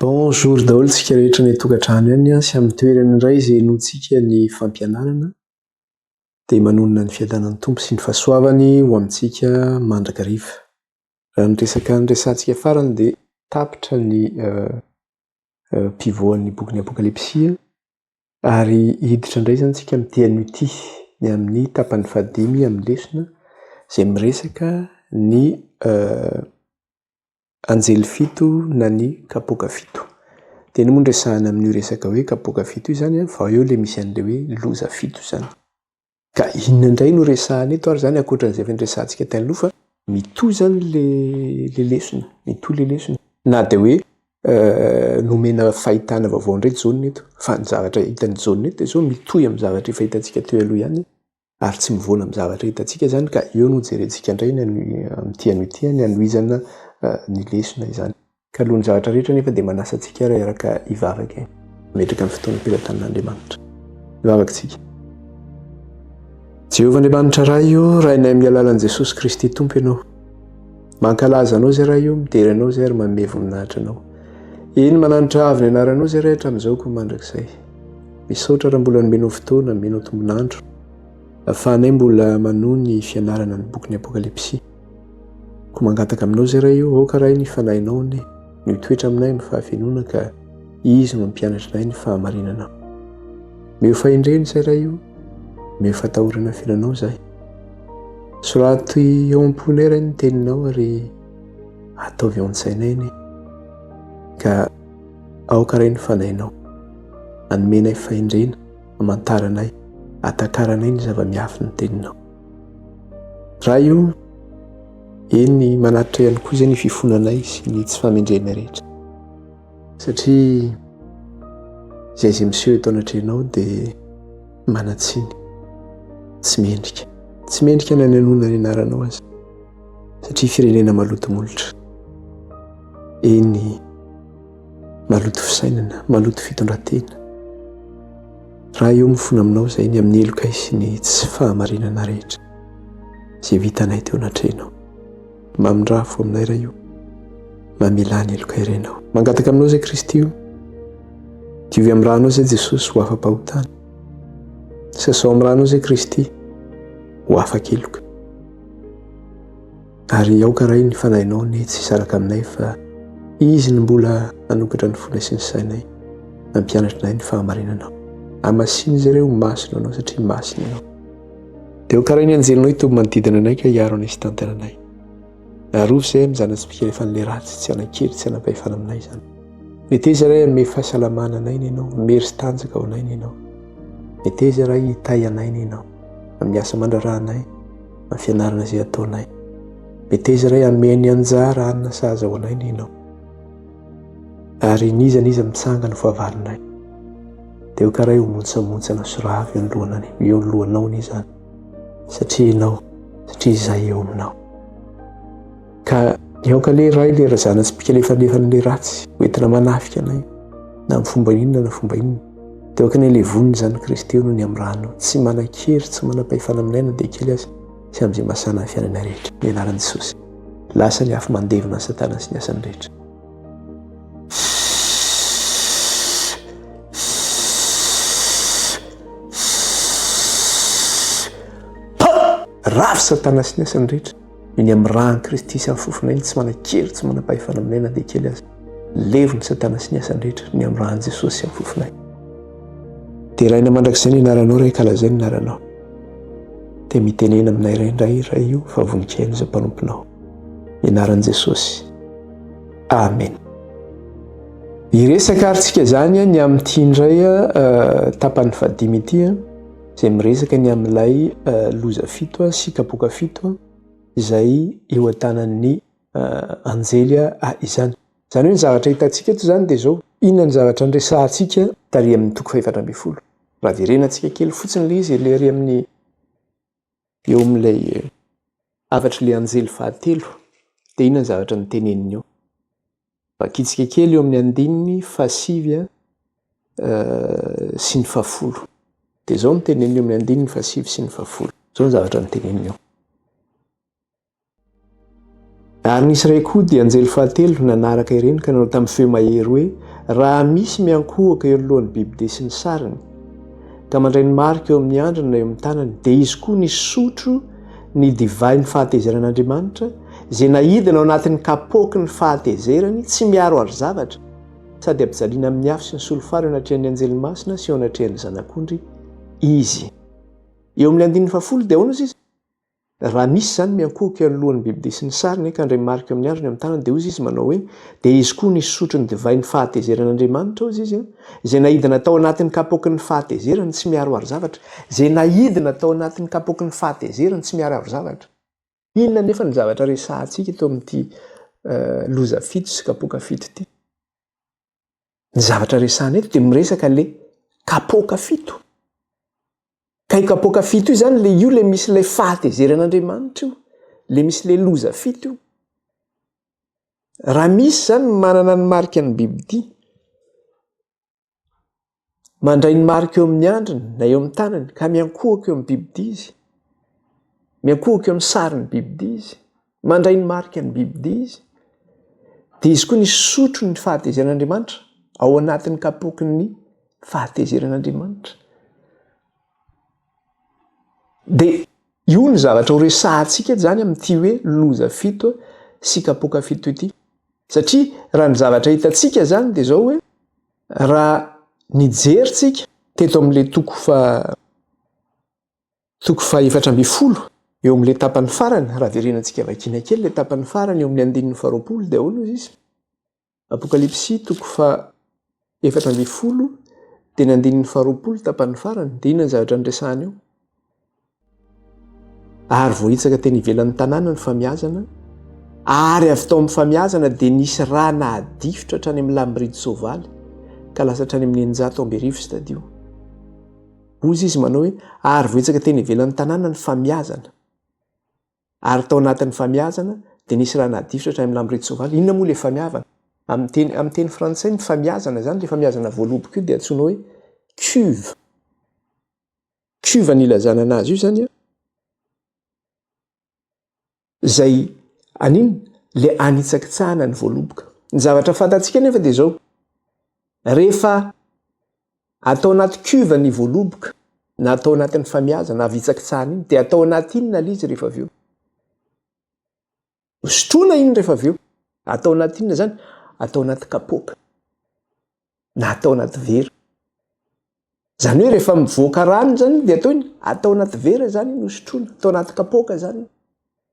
Bonjour daholo tsika rehetra any an-tokantrano ihany sy amin'ny toerana indray izay inoantsika ny fampianarana dia manonona ny fiadanan'ny tompo sy ny fahasoavany ho amintsika mandrakariva. Raha ny resaka niresahantsika farany dia tapitra ny pivoan'ny bokin'ny apokalipsy Ary hiditra indray izany isika amin'ny TNUT, ny amin'ny tapany fahadimy amin'ny lesona izay miresaka ny anjely fito na ny kapoaka fito. Tena moa no resahana amin'io resaka hoe kapoaka fito io izany an, vao eo ilay misy an'ilay hoe loza fito izany. Ka inona indray no resahana eto ary zany ankoatra an'izay efa niresahantsika tany aloha fa mitohy zany le le lesona, mitohy le lesona. Na dia hoe nomena fahitana vaovao indray Jaona eto, fa ny zavatra hitan'i Jaona eto dia sao mitohy amin'ny zavatra efa hitantsika teo aloha ihany ary tsy mivoana amin'ny zavatra hitantsika izany ka eo no jerentsika indray ny amin'ity anio ity ny hanohizana ny lesona izany. Ka alohan'ny zavatra rehetra anefa dia manasa antsika ary araka hivavaka e. Mametraka ny fotoana am-pelatanin'Andriamanitra. Hivavaka tsika. Jehovah Andriamanitra Ray o, Rainay amin'ny alalan'i Jesosy Kristy Tompo Ianao. Mankalaza Anao izay Ray o, midera Anao izay ary manome voninahitra Anao. Eny, mananatra avo ny anaranao izay Ray hatramin'izao koa mandrakizay. Misaotra raha mbola nomenao fotoana, nomenao tombon'andro. Ahafahanay mbola manohy ny fianarana ny bokin'ny Apokalypsy. Ko mangataka aminao zay ray o, aoka ray ny fanahinao anie no hitoetra aminay ny fahavenona ka izy no hampianatra anay ny fahamarinana. Mihofa hendreny zay ray o, mihofa atahorana fiananao zay. Sorato eo am-ponay ray ny teninao ary ataovy ao an-tsainay anie. Ka aoka ray ny fanahinao anomenay fahendrena hamantaranay, atakaranay ny zava-miafy ny teninao. Ray o, eny manatitra ihany koa izay ny fifonanay sy ny tsy fahamendrehana rehetra. Satria izay izay miseho eto anatrehanao dia manan-tsiny, tsy mendrika. Tsy mendrika na ny hanoana ny anaranao aza satria firenena maloto molotra. Eny. Maloto fisainana, maloto fitondran-tena. Raha eo mifona aminao izay ny amin'ny helokay sy ny tsy fahamarinana rehetra izay vitanay teo anatrehanao. Mamindraha fo aminay Ray o. Mamelà ny helokay renao. Mangataka aminao izay Kristy o. Diovy amin'ny ranao izay Jesosy ho afa-pahotana. Sasao amin'ny ranao izay Kristy ho afaka heloka. Ary aoka Ray ny Fanahinao anie tsy hisaraka aminay fa Izy no mbola hanokatra ny fonay sy ny sainay, hampianatra anay ny fahamarinanao. Hamasino izy ireo ho masina Anao satria masina Ianao. Dia aoka Ray ny Anjelinao hitoby manodidina anay ka hiaro anay sy hitantana anay. Arovy izay amin'ny zana-tsy mpikalefan'ny le ratsy, tsy hanan-kery, tsy hanan-pahefana aminay izany. Meteza Ray hanome fahasalamana anay ny Ianao, hamery sy tanjaka ho anay ny Ianao. Meteza Ray hitahy anay ny Ianao, amin'ny asa mandraharaha anay. amin'ny fianarana izay ataonay. Meteza iray hameno anjara hanina sahaza ho anay ny ianao. Ary n'iza n'iza mitsanga ny fahavalonay, dia ho karay ho montsamontsana soravo eo lohanany, eo lohanao ny izany, satria ianao, satria izay eo aminao. ka niaoka le ray le razana tsy mpikalefanefana le ratsy hoentina manafika anay na amin'ny fomba inona na fomba inona dia oka ny levon'ny zanak'i Kristy eo no ny amin'ny rano tsy manan-kery tsy manam-pahefana aminay na dia kely aza sy amin'izay masana ny fiainana rehetra ny anaran'i Jesosy lasa ny afo mandevona ny satana sy ny asany rehetra rafy satana sy ny asany rehetra Ny amin'ny ràn'i Kristy sy amin'ny fofonay, ny tsy manan-kery, tsy manam-pahefana aminay na dia kely aza. Levon'i Satana sy ny asany rehetra, ny amin'ny ràn'i Jesosy sy amin'ny fofonay. Deraina mandrakizay ny anaranao Ray, kalazaina ny anaranao. Dia mitenena aminay Ray indray io Ray io fa vonikain'izay mpanomponao. Ny anaran'i Jesosy. Amen. Hiresaka ary tsika izany ny amin'ity indray tapany fahadimy ity. izay miresaka ny amin'ilay loza fito sy kapoaka fito izay eo an-tanan'ny anjely izany. Izany hoe ny zavatra hitantsika eto izany dia izao, inona ny zavatra niresahantsika tary amin'ny toko fahefatra ambin'ny folo? Raha verenantsika kely fotsiny ilay izy, ilay ary amin'ny. Eo amin'ilay hafatr'ilay anjely fahatelo dia inona ny zavatra noteneniny eo? Vakitsika kely eo amin'ny andininy fahasivy sy ny fahafolo. Dia izao no teneniny eo amin'ny andininy fahasivy sy ny fahafolo. Izao ny zavatra noteneniny eo. Ary nisy iray koa, dia anjely fahatelo, nanaraka ireny ka nanao tamin'ny feo mahery hoe, Raha misy miankohoka eo anoloan'ny bibidia sy ny sariny, ka mandray ny marika eo amin'ny andriny na eo amin'ny tanany, dia izy koa nisotro ny divain'ny fahatezeran'Andriamanitra, izay nahidina ao anatin'ny kapoaky ny fahatezerany, tsy miaro àry zavatra, sady ampijaliana amin'ny afo sy ny solifara eo anatrehan'ny anjely masina sy eo anatrehan'ny Zanak'ondry izy. Eo amin'ny andininy fahafolo dia ahoana hozy izy? Raha misy izany miankohoka eo anoloan'ny bibidia sy ny sariny ka handray marika amin'ny andriny amin'ny tanany, dia hoy izy manao hoe, Dia izy koa nisy sotro ny divay ny fahatezeran'Andriamanitra, hoy izy, izay naidina tao anatin'ny kapoakin'ny fahatezerany tsy miharoharo zavatra, izay naidina tao anatin'ny kapoakin'ny fahatezerany tsy miharoharo zavatra. Inona anefa no zavatra resahantsika eto amin'ity loza fito sy kapoaka fito ity? ny zavatra resahana eto dia miresaka le kapoaka fito ka i kapoaka fito io zany le io le misy ilay fahatezeran'andriamanitra io le misy le loza fito io raha misy zany manana ny marika ny bibidia mandray ny marika eo amin'ny andriny na eo amin'ny tanany ka miankohoka eo amin'ny bibidia izy miankohoka eo amin'ny sarin'ny bibidia izy mandray ny marika ny bibidia izy dia izy koa ny sotro ny fahatezeran'andriamanitra ao anatin'ny kapoky ny fahatezeran'andriamanitra dia io ny zavatra ho resahantsika zany amin'ity hoe loza fito sy kapoka fito ity satria raha ny zavatra hitantsika zany dia zao hoe Raha nijery tsika teto amin'ilay toko faha toko faha efatra ambin'ny folo eo amin'ilay tapany farany, raha verenana tsika vakiana kely ilay tapany farany eo amin'ny andininy faha roapolo dia ahoana hoy izy? Apokalypsy toko faha efatra ambin'ny folo dia ny andininy faha roapolo tapany farany dia inona ny zavatra niresahana eo? Ary voahitsaka teny ivelan'ny tanàna ny famiazana, ary avy tao amin'ny famiazana dia nisy rà nahadifotra hatrany amin'ny lamboridy soavaly, ka lasa hatrany amin'ny eninjato amby arivo stadio. Hoy izy manao hoe, ary voahitsaka teny ivelan'ny tanàna ny famiazana, ary tao anatin'ny famiazana dia nisy rà nahadifotra hatrany amin'ny lamboridy soavaly. Inona moa ilay famiavana? Amin'ny teny, amin'ny teny frantsay ny famiazana izany, ilay famiazana voaloboka io dia antsoina hoe cuve. Cuve ny ilazana anazy io zany a. Zay aniny le anitsakitsahana ny voaloboka. Ny zavatra fantatsika nefa de zao. Rehefa atao anaty cuve ny voaloboka na atao anatin'ny famiazana avy itsakitsahana iny de atao anaty inona le izy rehefa avy eo. Sotroina iny rehefa avy eo. Atao anaty inona izany? Atao anaty kapoaka na atao anaty vera. Izany hoe rehefa mivoaka rano izany dia atao inona? Atao anaty vera izany iny hosotroina, atao anaty kapoaka izany.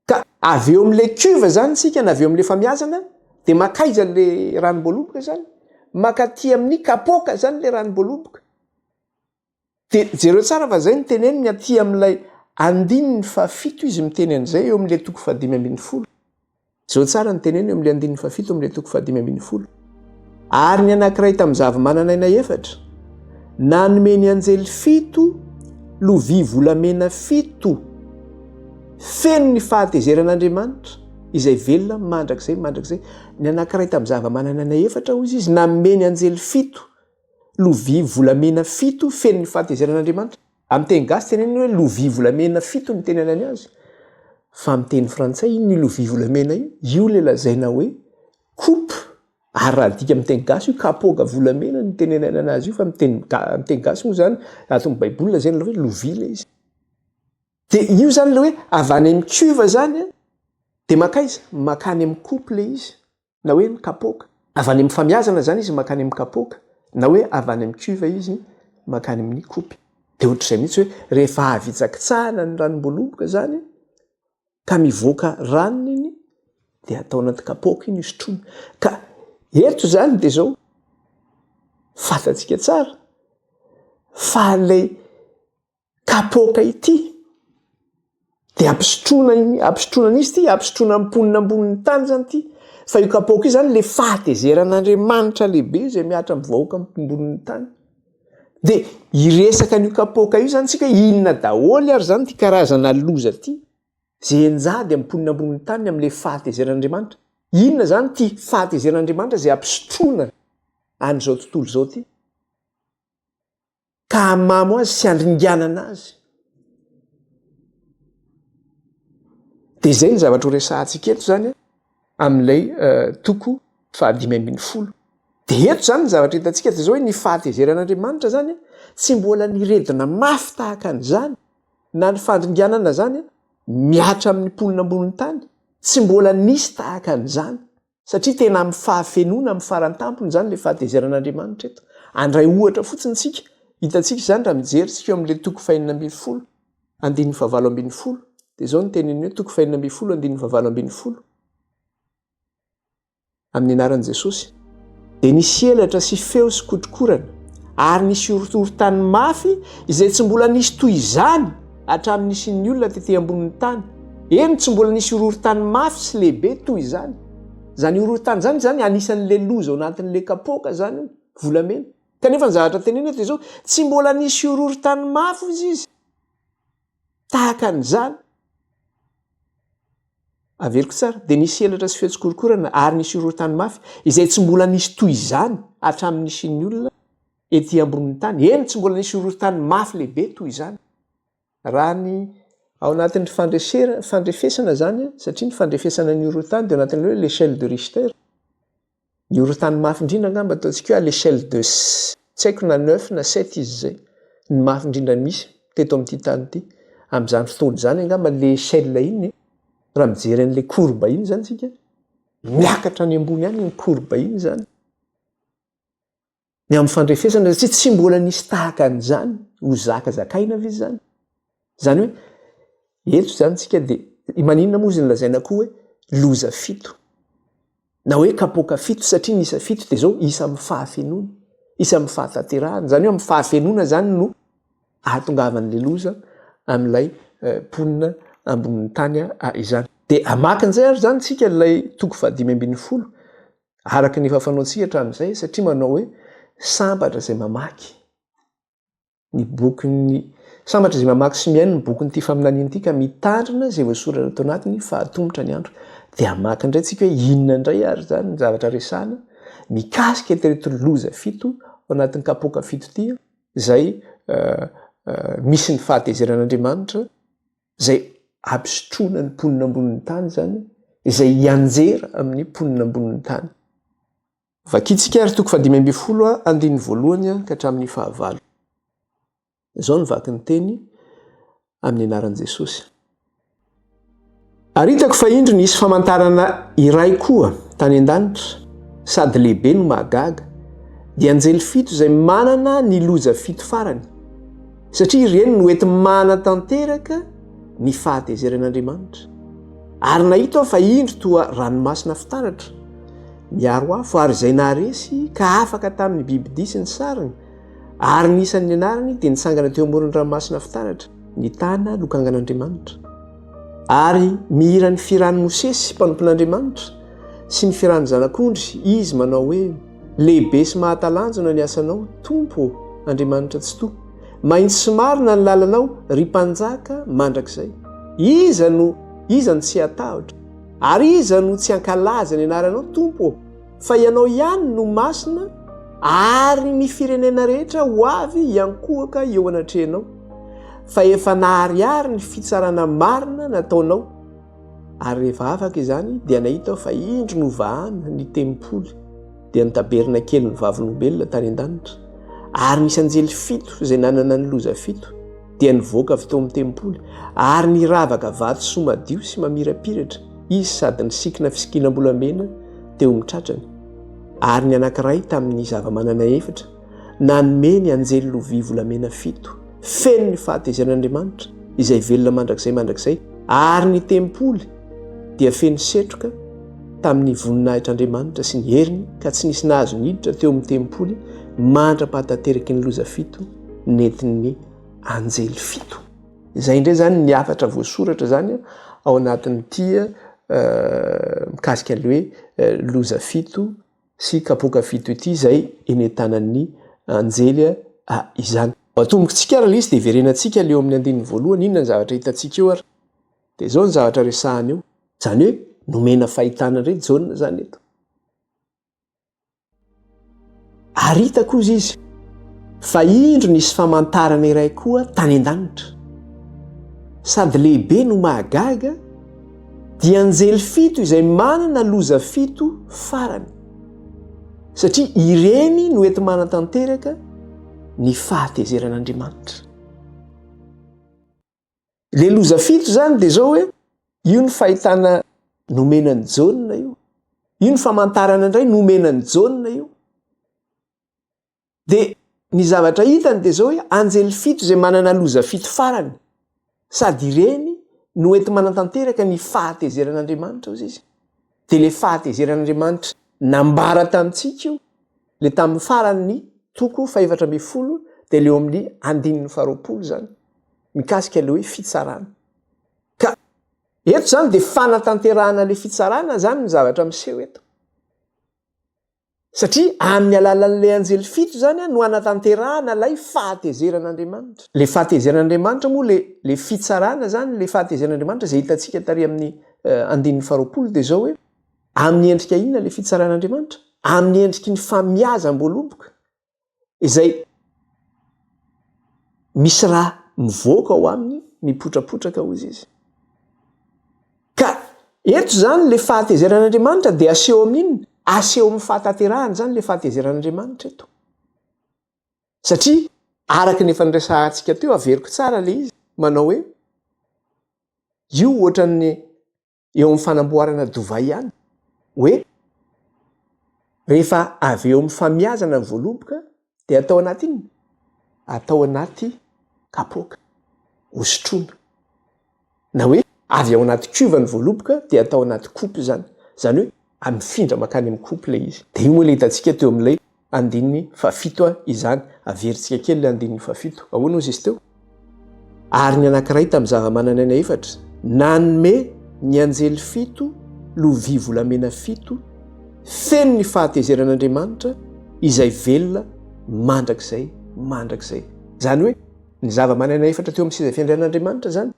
Ka avy eo amin'ilay cuve izany isika na avy eo amin'ilay famiazana dia makaiza ilay ranom-boaloboka izany? Makaty amin'ny kapoaka izany ilay ranom-boaloboka. Dia jereo tsara fa izay no teneniny aty amin'ilay andininy fahafito izy miteny an'izay eo amin'ilay toko fahadimy ambin'ny folo. Jereo tsara ny teneniny eo amin'ilay andininy fahafito amin'ilay toko fahadimy ambin'ny folo. Ary ny anankiray tamin'ny zavamananaina efatra nanome ny anjely fito lovia volamena fito feno ny fahatezeran'Andriamanitra izay velona mandrakizay mandrakizay. Ny anankiray tamin'ny zavamananaina efatra, hoy izy, nanome ny anjely fito. Lovia volamena fito feno ny fahatezeran'Andriamanitra. Amin'ny teny gasy tenenina hoe lovia volamena fito ny teny anany azy. Fa amin'ny teny frantsay inona io lovia volamena io? Io ilay lazaina hoe coupe ary raha adika amin'ny teny gasy io kapoaka volamena no teny ananana azy io fa amin'ny teny ga- amin'ny teny gasy moa izany ato amin'ny baiboly lazaina ilay hoe lovia ilay izy. Dia io izany ilay hoe avy any amin'ny cuve izany dia makaiza? Makany amin'ny coupe ilay izy. na hoe mikapoaka. Avy any amin'ny famiazana izany izy mankany amin'ny kapoaka, na hoe avy any amin'ny cuve izy mankany amin'ny kopy. Dia ohatr'izay mihitsy hoe rehefa avy hitsakitsahana ny ranom-boaloboka izany ka mivoaka ranony iny dia atao anaty kapoaka iny hosotroina. Ka eto izany dia izao, fantatsika tsara fa ilay Kapoaka ity dia ampisotroana iny, ampisotroana an'izy ity, ampisotroana amin'ny mponina ambonin'ny tany izany ity. Fa io kapoaka io izany ilay fahatezeran'Andriamanitra lehibe izay mihatra amin'ny vahoaka ambonin'ny tany. Dia hiresaka an'io kapoaka io izany isika, inona daholo ary izany ity karazana loza ity, izay enjady amin'ny mponina ambonin'ny tany amin'ilay fahatezeran'Andriamanitra. Inona izany ity fahatezeran'Andriamanitra izay ampisotroana an'izao tontolo izao ity? ka hamamo azy sy handringanana azy. Dia izay ny zavatra horesahantsika eto izany amin'ilay eh, toko fahadimy ambin'ny folo. Dia eto izany ny zavatra hitantsika dia izao hoe ny fahatezeran'Andriamanitra izany tsy mbola niredona mafy tahaka an'izany na ny fandringanana izany mihatra amin'ny mponina ambonin'ny tany. Tsy mbola nisy tahaka an'izany. satria tena amin'ny fahafenoana amin'ny faran-tampony izany ilay fahatezeran'Andriamanitra eto. Handray ohatra fotsiny isika, hitantsika izany raha mijery isika eo amin'ilay toko fahenina ambin'ny folo, andininy fahavalo ambin'ny folo, dia izao ny teniny hoe toko fahenina ambin'ny folo, andininy fahavalo ambin'ny folo, amin'ny anaran'i Jesosy. Dia nisy elatra sy feo sy kotrokorana ary nisy horohorontany mafy izay tsy mbola nisy toy izany hatramin'ny nisian'ny olona tety ambonin'ny tany. Eny, tsy mbola nisy horohorontany mafy sy lehibe toy izany. Izany horohorontany izany izany anisan'ilay loza ao anatin'ilay kapoaka izany io, volamena. Kanefa ny zavatra tenenina eto dia izao, Tsy mbola nisy horohorontany mafy, hoy izy. tahaka an'izany, averiko tsara, dia nisy elatra sy feo tsikorokorana ary nisy horohorontany mafy izay tsy mbola nisy toy izany hatramin'ny nisian'ny olona ety ambonin'ny tany, eny, tsy mbola nisy horohorontany mafy lehibe toy izany raha ny ao anatin'ny fandresena, fandrefesana izany an, satria ny fandrefesana ny horohorontany dia ao anatin'ilay hoe l'échelle de Richter. Ny horontany mafy indrindra angamba ataontsika hoe à l'échelle de tsy haiko na neuf na sept izy izay, ny mafy indrindra misy teto amin'ity tany ity. Amin'izany fotoana izany angamba ilay échelle iny raha mijery an'ilay courbe iny izany isika, miakatra any ambony any iny courbe iny izany. ny amin'ny fandrefesana satria tsy mbola nisy tahaka an'izany ho zakazakaina ve izany? Izany hoe eto izany tsika dia maninona moa izy nolazaina koa hoe loza fito na hoe kapoaka fito satria ny isa fito dia izao isa amin'ny fahafenoana, isa amin'ny fahatanterahana. Izany hoe amin'ny fahafenoana izany no ahatongavan'ilay loza amin'ilay eh, mponina ambonin'ny tany ah, izany. Dia hamaky an'izay ary izany tsika ilay toko fahadimy ambin'ny folo araka ny efa fanaontsika hatramin'izay satria manao hoe sambatra izay mamaky ny bokin'ny sambatra izay mamaky sy mihaino ny bokin'ity faminaniana ity ka mitandrina izay voasoratra ato anatiny fa atomotra ny andro dia mamaky indray tsika hoe inona indray ary izany ny zavatra resana mikasika tereto loza fito ao anatin'ny kapoka fito ity izay eh, eh, misy ny fahatezeran'Andriamanitra izay hampisotroana ny mponina ambonin'ny tany izany, izay hianjera amin'ny mponina ambonin'ny tany. Vakintsika ary toko fahadimy ambin'ny folo andininy voalohany ka hatramin'ny fahavalo. Izao ny vaky ny teny amin'ny anaran'i Jesosy. Ary hitako fa indro nisy famantarana iray koa tany an-danitra, sady lehibe no mahagaga, dia anjely fito izay manana ny loza fito farany. satria ireny no ety manatanteraka ny fahatezeran'Andriamanitra. Ary nahita aho fa indro toa ranomasina fitaratra, miaro afo, ary izay naharesy ka afaka tamin'ny bibidia sy ny sariny, ary ny isan'ny anarany dia nitsangana teo amoron'ny ranomasina fitaratra, nitana lokangan'Andriamanitra. Ary mihira ny firan'i Mosesy mpanompon'Andriamanitra sy ny firan'ny zanak'ondry izy manao hoe. Lehibe sy mahatalanjona ny asanao, Tompo ô, Andriamanitra Tsitoha. Mahitsy sy marina ny lalanao, ry Mpanjaka mandrakizay. Iza no iza no tsy hatahotra? Ary iza no tsy hankalaza ny anaranao, Tompo ô? Fa Ianao ihany no masina, ary ny firenena rehetra ho avy hiankohoka eo anatrehanao, fa efa naharihary ny fitsarana marina nataonao. Ary rehefa afaka izany, dia nahita aho fa indro novahana ny tempoly, dia ny tabernakelin'ny vavolombelona tany an-danitra. Ary nisy anjely fito izay nanana ny loza fito, dia nivoaka avy teo amin'ny tempoly, ary niravaka vatosoa madio sy mamirapiratra izy sady nisikina fisikinam-bolamena teo amin'ny tratrany. Ary ny anankiray tamin'ny zava-manana efatra, Nanome ny anjely lovia volamena fito, feno ny fahatezeran'Andriamanitra, izay velona mandrakizay mandrakizay, ary ny tempoly dia feno setroka tamin'ny voninahitr'Andriamanitra sy ny heriny, ka tsy nisy nahazo niditra teo amin'ny tempoly mandra-pahatateraky ny loza fito nentin'ny anjely fito. Izay indray izany ny hafatra voasoratra izany ao anatin'ity mikasika ny hoe loza fito. sy kapoaka fito ity izay enentanan'ny anjely izany. Atomboky tsika ary le izy de hiverenantsika le eo amin'ny andininy voalohany inona ny zavatra hitantsika eo ary de zao ny zavatra resahany eo. Zany hoe nomena fahitana ndray Jaona zany eto. Ary hita koa izy fa indro nisy famantarana iray koa tany an-danitra. Sady lehibe no mahagaga. Dia anjely fito izay manana loza fito farany, satria ireny no enti-manatanteraka ny fahatezeran'Andriamanitra. Ilay loza fito izany dia izao hoe, io ny fahitana nomena an'i Jaona io, io ny famantarana indray nomena an'i Jaona io, Dia ny zavatra hitany dia izao hoe anjely fito izay manana loza fito farany. Sady ireny no enti-manatanteraka ny fahatezeran'Andriamanitra, hoy izy. Dia ilay fahatezeran'Andriamanitra nambara tamintsika io, ilay tamin'ny faran'ny toko fahefatra ambin'ny folo, dia ilay ao amin'ny andininy faharoapolo izany, mikasika ilay hoe fitsarana. Ka eto izany dia fanatanterahana ilay fitsarana izany ny zavatra miseho eto. Satria amin'ny alalan'ilay anjely fito izany no hanatanterahana ilay fahatezeran'Andriamanitra. Ilay fahatezeran'Andriamanitra moa, ilay ilay fitsarana izany, ilay fahatezeran'Andriamanitra izay hitantsika tary amin'ny andininy faharoapolo dia izao hoe, amin'ny endrika inona ilay fitsaran'Andriamanitra? Amin'ny endriky ny famiazam-boaloboka, izay misy raha mivoaka ao aminy mipotrapotraka hozy izy. Ka eto izany le fahatezeran'Andriamanitra dia aseho amin'inona? Aseho amin'ny fahatanterahana izany le fahatezeran'Andriamanitra eto. Satria araka ny efa niresahantsika teo averiko tsara le izy manao hoe io ohatran'ny eo amin'ny fanamboarana dovay ihany hoe rehefa avy eo amin'ny famiazana ny voaloboka dia atao anaty inona? Atao anaty kapoaka, hosotroina. Na hoe avy ao anaty cuve ny voaloboka dia atao anaty coupe izany. Izany hoe amifindra mankany amin'ny coupe ilay izy. Dia io moa ilay hitantsika teo amin'ilay andininy fahafito a izany. Averintsika kely ilay andininy fahafito. Ahoana hozy izy teo? Ary ny anankiray tamin'ny zava-mananaina efatra nanome ny anjely fito lovia volamena fito feno ny fahatezeran'Andriamanitra izay velona mandrakizay mandrakizay. Izany hoe ny zava-mananaina efatra teo amin'ny seza fiandrianan'Andriamanitra izany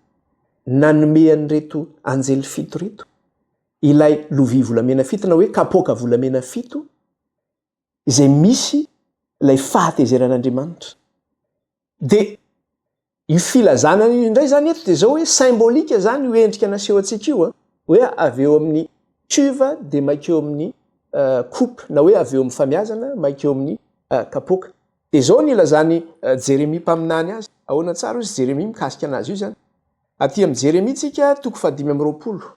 nanome an'ireto anjely fito ireto ilay lovia volamena fito na hoe kapoaka volamena fito izay misy ilay fahatezeran'Andriamanitra. Dia io filazana io indray izany eto dia izao hoe symbolika izany io endrika naseho antsika io a, hoe avy eo amin'ny cuve dia maika eo amin'ny coupe na hoe avy eo amin'ny famiazana maika eo amin'ny kapoaka. Dia izao ny ilazan'i Jeremia mpaminany azy, ahoana tsara hozy Jeremia mikasika anazy io izany? Aty amin'ny Jeremia tsika toko fahadimy amby roapolo.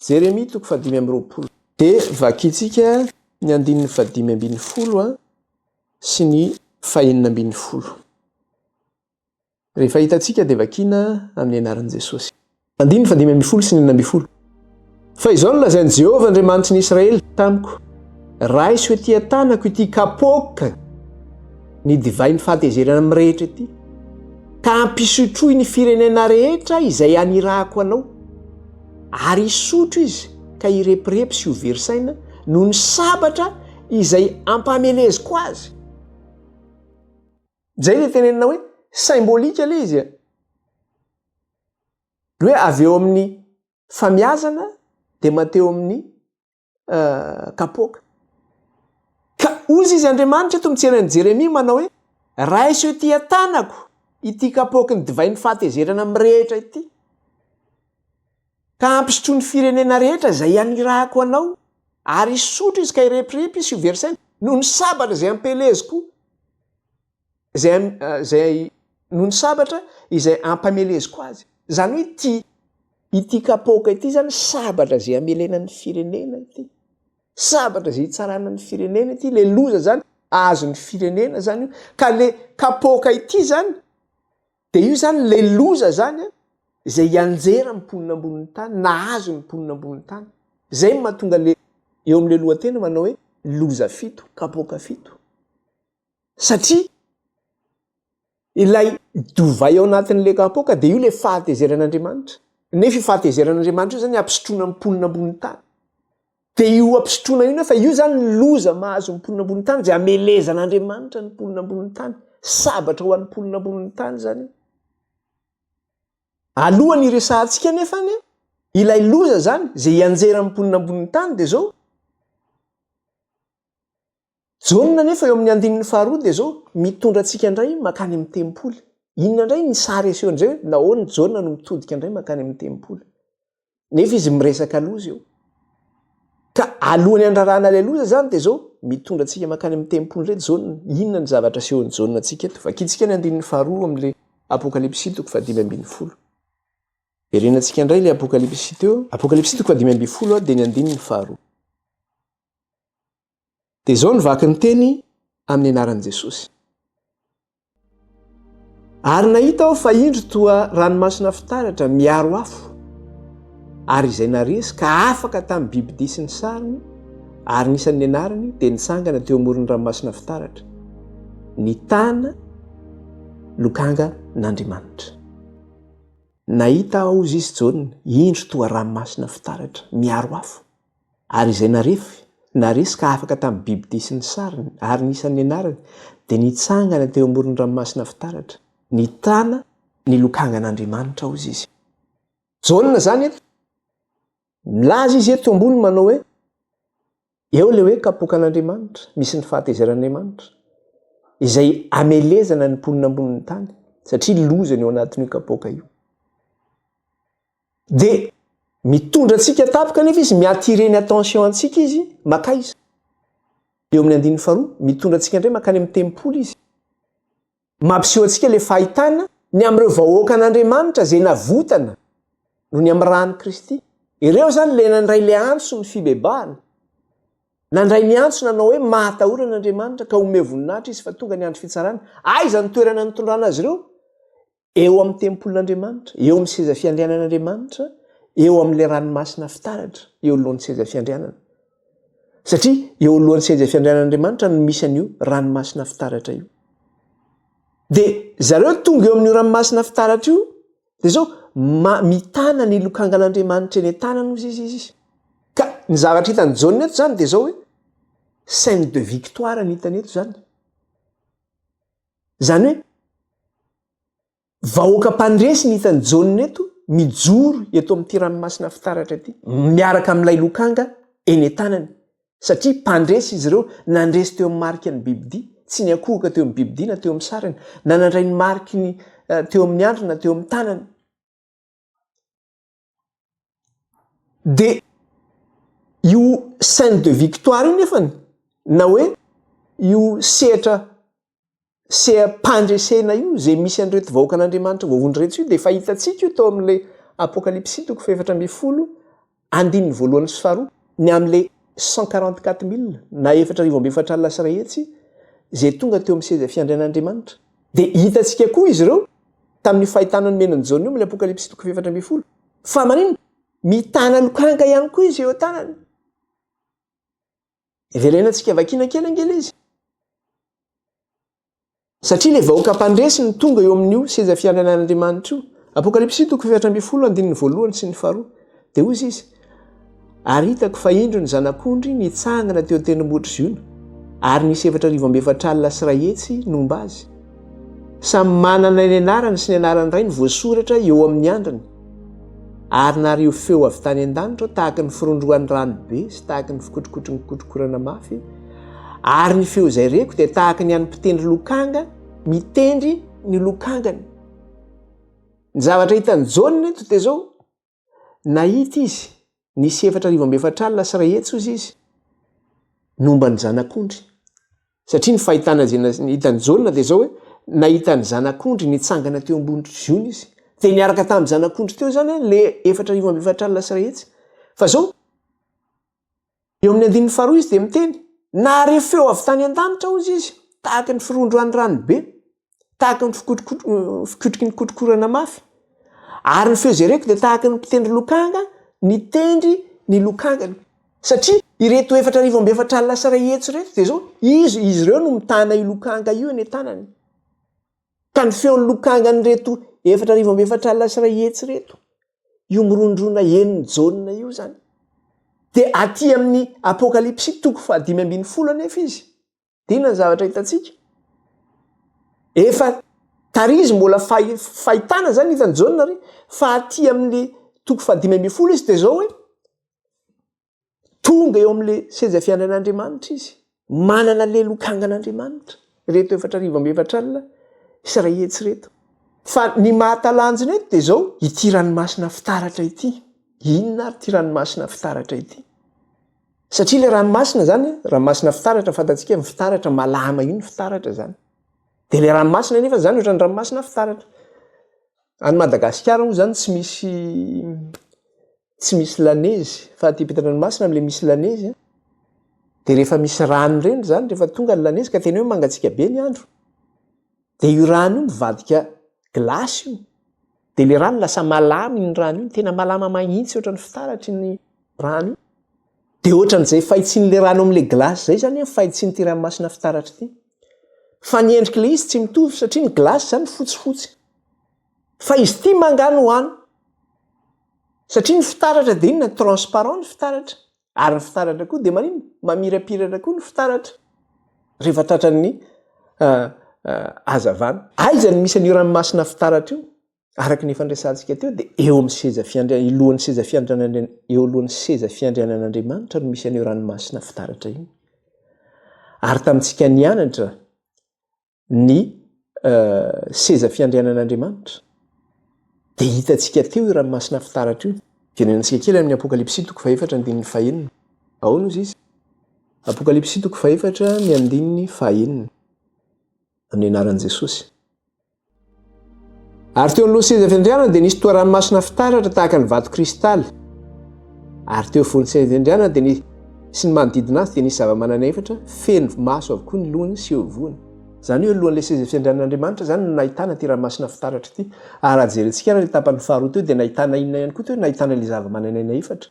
Jeremia toko fahadimy amby roapolo. Dia vakintsika ny andininy fahadimy ambin'ny folo sy ny fahenina ambin'ny folo. Rehefa hitantsika dia vakiana amin'ny anaran'i Jesosy. Andininy fahadimy ambin'ny folo sy ny enina ambin'ny folo. Fa izao no lazain'i Jehovah Andriamanitry ny Israely tamiko, Raiso etỳ an-tanako ity kapoaka ny divain'ny fahatezerana mirehitra ity, ka ampisotroy ny firenena rehetra izay anirahako anao. Ary hisotro izy ka hirepirepy sy ho very saina noho ny sabatra izay ampameleziko azy. Izay ilay tenenina hoe symbolique ilay izy. Ny hoe avy eo amin'ny famiazana dia manteeo amin'ny kapoaka. Ka hozy izy Andriamanitra eto mijery an'i Jeremia manao hoe, raiso ety an-tanako ity kapoaky ny divay ny fahatezerana mirehitra ity, ka hampisotroa ny firenena rehetra izay hanirahako anao, ary hisotro izy ka hirepirepy izy sy ho versena, noho ny sabatra izay hampieleziko. Izay, izay noho ny sabatra izay ampameleziko azy. Izany hoe ity, ity kapoaka ity izany sabatra izay amelena ny firenena ity. Sabatra izay hitsarana ny firenena ity, ilay loza izany azon'ny firenena izany io. Ka ilay kapoaka ity izany, dia io izany ilay loza izany an, izay hianjera ny mponina ambonin'ny tany, nahazo ny mponina ambonin'ny tany. Izay no mahatonga ilay eo amin'ilay lohateny manao hoe loza fito, kapoaka fito. satria ilay divay ao anatin'ilay kapoaka dia io ilay fahatezeran'Andriamanitra, nefa io fahatezeran'Andriamanitra io zany hampisotroana ny mponina ambony tany, dia io hampisotroana io nefa io zany ny loza mahazo ny mponina ambony tany dia hamelezan'Andriamanitra ny mponina ambony tany, sabatra ho an'ny mponina ambony tany zany io. Alohan'ny hiresahantsika nefa anie ilay loza zany izay hianjeran'ny mponina ambony tany dia zao, Jaona anefa eo amin'ny andininy faharoa dia izao mitondra antsika indray mankany amin'ny tempoly. Inona indray ny sary asehon'izay hoe nahoana i Jaona no mitodika indray mankany amin'ny tempoly? Nefa izy miresaka loza eo. Ka alohan'ny handrarahana ilay loza izany dia izao mitondra antsika mankany amin'ny tempoly indray Jaona. Inona ny zavatra asehon'i Jaona antsika eto? Vakintsika ny andininy faharoa amin'ilay Apokalypsy toko fahadimy ambin'ny folo. Jerena antsika indray ilay Apokalypsy teo. Apokalypsy toko fahadimy ambin'ny folo dia ny andininy faharoa. Dia izao no vaky ny teny amin'ny anaran'i Jesosy. Ary nahita aho fa indro toa ranomasina fitaratra miaro afo, ary izay naresy ka afaka tamin'ny bibidia sy ny sariny, ary ny isan'ny anarany dia nitsangana teo amoron'ny ranomasina fitaratra, ny tana lokanga n'Andriamanitra. Nahita aho, hoy Izy Jaona, indro toa ranomasina fitaratra miaro afo. Ary izay narefy, naresy ka afaka tamin'ny bibidia sy ny sariny, ary ny isan'ny anarany, dia nitsangana teo amoron'ny ranomasina fitaratra, ny tana, ny lokangan'Andriamanitra, hozy izy. Jaona izany eto. Milaza izy eto ambony manao hoe, Eo ilay hoe kapoakan'Andriamanitra, misy ny fahatezeran'Andriamanitra, izay hamelezana ny mponina ambonin'ny tany, satria loza ny ao anatin'io kapoaka io. Dia mitondra antsika tampoka anefa izy, mi-attirer ny attention antsika izy, makaiza? Eo amin'ny andininy faharoa, mitondra antsika indray mankany amin'ny tempoly izy. Mampiseho antsika ilay fahitana ny amin'ireo vahoakan'Andriamanitra izay navotana noho ny amin'ny ran'i Kristy. Ireo izany ilay nandray ilay antso ny fibebahana, nandray ny antso nanao hoe, Mahatahorana Andriamanitra, ka omeo voninahitra Izy, fa tonga ny andro fitsarany. Aiza no toerana nitondrana azy ireo? eo amin'ny tempolin'Andriamanitra, eo amin'ny seza fiandrianan'Andriamanitra, eo amin'ilay ranomasina fitaratra, eo alohan'ny seza fiandrianana. Satria eo alohan'ny seza fiandrianan'Andriamanitra no misy an'io ranomasina fitaratra io. Dia zareo tonga eo amin'io ranomasina fitaratra io, dia izao mitana ny lokangan'Andriamanitra eny an-tanany hozy izy izy. Ka ny zavatra hitan'i Jaona eto izany dia izao hoe scène de victoire ny hitany eto izany. Izany hoe, vahoaka mpandresy ny hitan'i Jaona eto, mijoro eto amin'ity ranomasina fitaratra ity, miaraka amin'ilay lokanga eny an-tanany, satria mpandresy izy ireo, nandresy teo amin'ny marika ny bibidia, tsy niankohoka teo amin'ny bibidia na teo amin'ny sariny, na nandray ny mariky ny teo amin'ny andriny na teo amin'ny tanany. Dia io scène de victoire io nefany na hoe io sehatra seham-pandresena io izay misy an'ireto vahoakan'Andriamanitra voavonjy ireto io dia efa hitantsika io tao amin'ilay Apokalypsy toko fahefatra ambin'ny folo andininy voalohany sy faharoa ny amin'ilay cent quarante quatre mille na efatra arivo amby efatra alina sy iray hetsy izay tonga teo amin'ny seza fiandrian'Andriamanitra. Dia hitantsika koa izy ireo tamin'io fahitana nomen'i Jaona io amin'ny Apokalypsy toko fahefatra ambin'ny folo. Fa maninona? Mitana lokanga ihany koa izy eo an-tanany. Heverena antsika vakina kely angela izy. Satria ilay vahoaka mpandresy ny tonga eo amin'io seza fiandrianan'Andriamanitra io. Apokalypsy toko fahefatra ambin'ny folo andininy voalohany sy ny faharoa. Dia hoy izy, Ary hitako fa indro ny Zanak'ondry nitsangana teo an-tendrombohitra Ziona, ary nisy efatra arivo amby efatra alina sy iray hetsy nomba azy. Samy manana ny anarany sy ny anaran'ny Rainy voasoratra eo amin'ny andriny. Ary nariho feo avy tany an-danitra tahaka ny firondrohan'ny rano be sy tahaka ny fikotrokotry ny kotrokorana mafy, ary ny feo izay reko dia tahaka ny an'ny mpitendry lokanga mitendry ny lokangany. Ny zavatra hitan'i Jaona eto dia izao, Nahita izy nisy efatra arivo amby efatra alina sy iray hetsy, hoy izy, ny momba ny zanak'ondry. Satria ny fahitana izay nahitan'i Jaona dia izao hoe, nahita ny zanak'ondry nitsangana teo ambony trozona izy. Dia niaraka tamin'ny zanak'ondry teo izany ilay efatra arivo amby efatra alina sy iray hetsy. Fa izao, Eo amin'ny andininy faharoa izy dia miteny, Nahare feo avy tany an-danitra, hozy izy, tahaka ny firondroan'ny ranobe, tahaka ny fikotroky ny kotrokorana mafy. Ary ny feo izay reko dia tahaka ny mpitendry lokanga nitendry ny lokangany. Satria ireto efatra arivo amby efatra alina sy iray hetsy ireto dia izao, izy, izy ireo no mitana io lokanga io eny an-tanany. Ka ny feon'ny lokangan'ireto efatra arivo amby efatra alina sy iray hetsy ireto io mirondrona enin'ny Jaona io izany. Dia aty amin'ny Apokalypsy toko fahadimy ambin'ny folo anefa izy. Dia inona ny zavatra hitantsika? Efa tarizy mbola fahitana izany hitan'i Jaona ary fa aty amin'ny toko fahadimy ambin'ny folo izy dia izao hoe Tonga eo amin'ilay seza fiandran'Andriamanitra izy, manana ilay lokangan'Andriamanitra, ireto efatra arivo amby efatra alina sy iray hetsy ireto. Fa ny mahatalanjona eto dia izao, ity ranomasina fitaratra ity. Inona ary ity ranomasina fitaratra ity? Satria ilay ranomasina izany, ranomasina fitaratra, fantatsika ny fitaratra, malama iny fitaratra izany. Dia ilay ranomasina anefa izany ohatran'ny ranomasina fitaratra. Any Madagasikara moa izany tsy misy tsy misy lanezy fa aty ampitandranomasina amle misy lanezy a de rehefa misy rano ireny zany rehefa tonga ny lanezy ka tena hoe mangatsiaka be ny andro de io rano io mivadika glace io de le rano lasa malama iny rano iny tena malama mahintsy ohatrany fitaratry ny rano io de ohatran'izay fahitsian'le rano amle glace zay zany a fahitsiany ty ranomasina fitaratry ty fa ny endrik'le izy tsy mitovy satria ny glace zany fotsifotsy Fa izy ity ma angaha no any? Satria ny fitaratra dia inona? Transparent ny fitaratra. Ary ny fitaratra koa dia maninona? Mamirapiratra koa ny fitaratra rehefa tratran'ny hazavana. Aiza no misy an'io ranomasina fitaratra io? Araka ny efa niresahantsika teo dia eo amin'ny seza fiandrian-, ilohan'ny seza fiandrianan-, eo alohan'ny seza fiandrianan'Andriamanitra no misy an'io ranomasina fitaratra io. Ary tamintsika nianatra, ny seza fiandrianan'Andriamanitra. Dia hitantsika teo io ranomasina fitaratra io. Jerenantsika kely amin'ny Apokalypsy toko fahefatra andininy fahenina. Aono izy izy. Apokalypsy toko fahefatra ny andininy fahenina. Amin'ny anaran'i Jesosy. Ary teo anoloan'ny seza fiandrianana dia nisy toa ranomasina fitaratra tahaka ny vato kristaly. Ary teo afovoan'ny seza fiandrianana dia nisy sy ny manodidina azy dia nisy zava-manana efatra feno maso avokoa ny lohany sy eo ivony. Izany hoe alohan'ilay seza fiandrianan'Andriamanitra izany no nahitana ity ranomasina fitaratra ity. Ary raha jerentsika ary ilay tapany faharoa teo dia nahitana inona ihany koa teo? Nahitana ilay zava-mananaina efatra.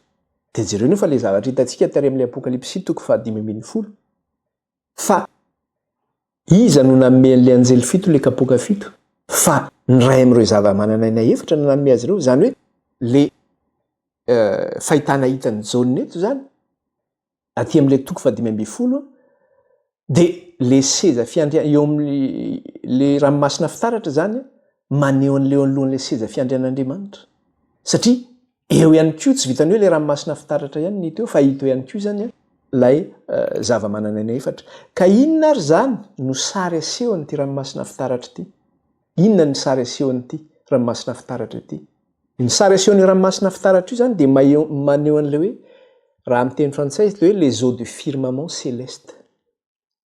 Dia jereo anie fa ilay zavatra hitantsika tary amin'ilay Apokalypsy toko fahadimy ambin'ny folo. Fa Iza no nanome an'ilay anjely fito ilay kapoaka fito? Fa ny iray amin'ireo zava-manan'aina efatra no nanome azy ireo, izany hoe ilay fahitana hitan'i Jaona eto izany, aty amin'ilay toko fahadimy ambin'ny folo, dia ilay seza fiandrianana, eo amin'ilay ranomasina fitaratra izany, maneho an'ilay eo anoloan'ilay seza fiandrianan'Andriamanitra. Satria. Eo ihany koa, tsy vitan'ny hoe ilay ranomasina fitaratra ihany ny teo fa hita eo ihany koa izany ilay zavamananaina efatra. Ka inona ary izany no sary asehon'ity ranomasina fitaratra ity? Inona ny sary asehon'ity ranomasina fitaratra ity? Ny sary asehon'io ranomasina fitaratra io izany dia maneho an'ilay hoe, raha amin'ny teny frantsay, ilay hoe les eaux du firmament céleste.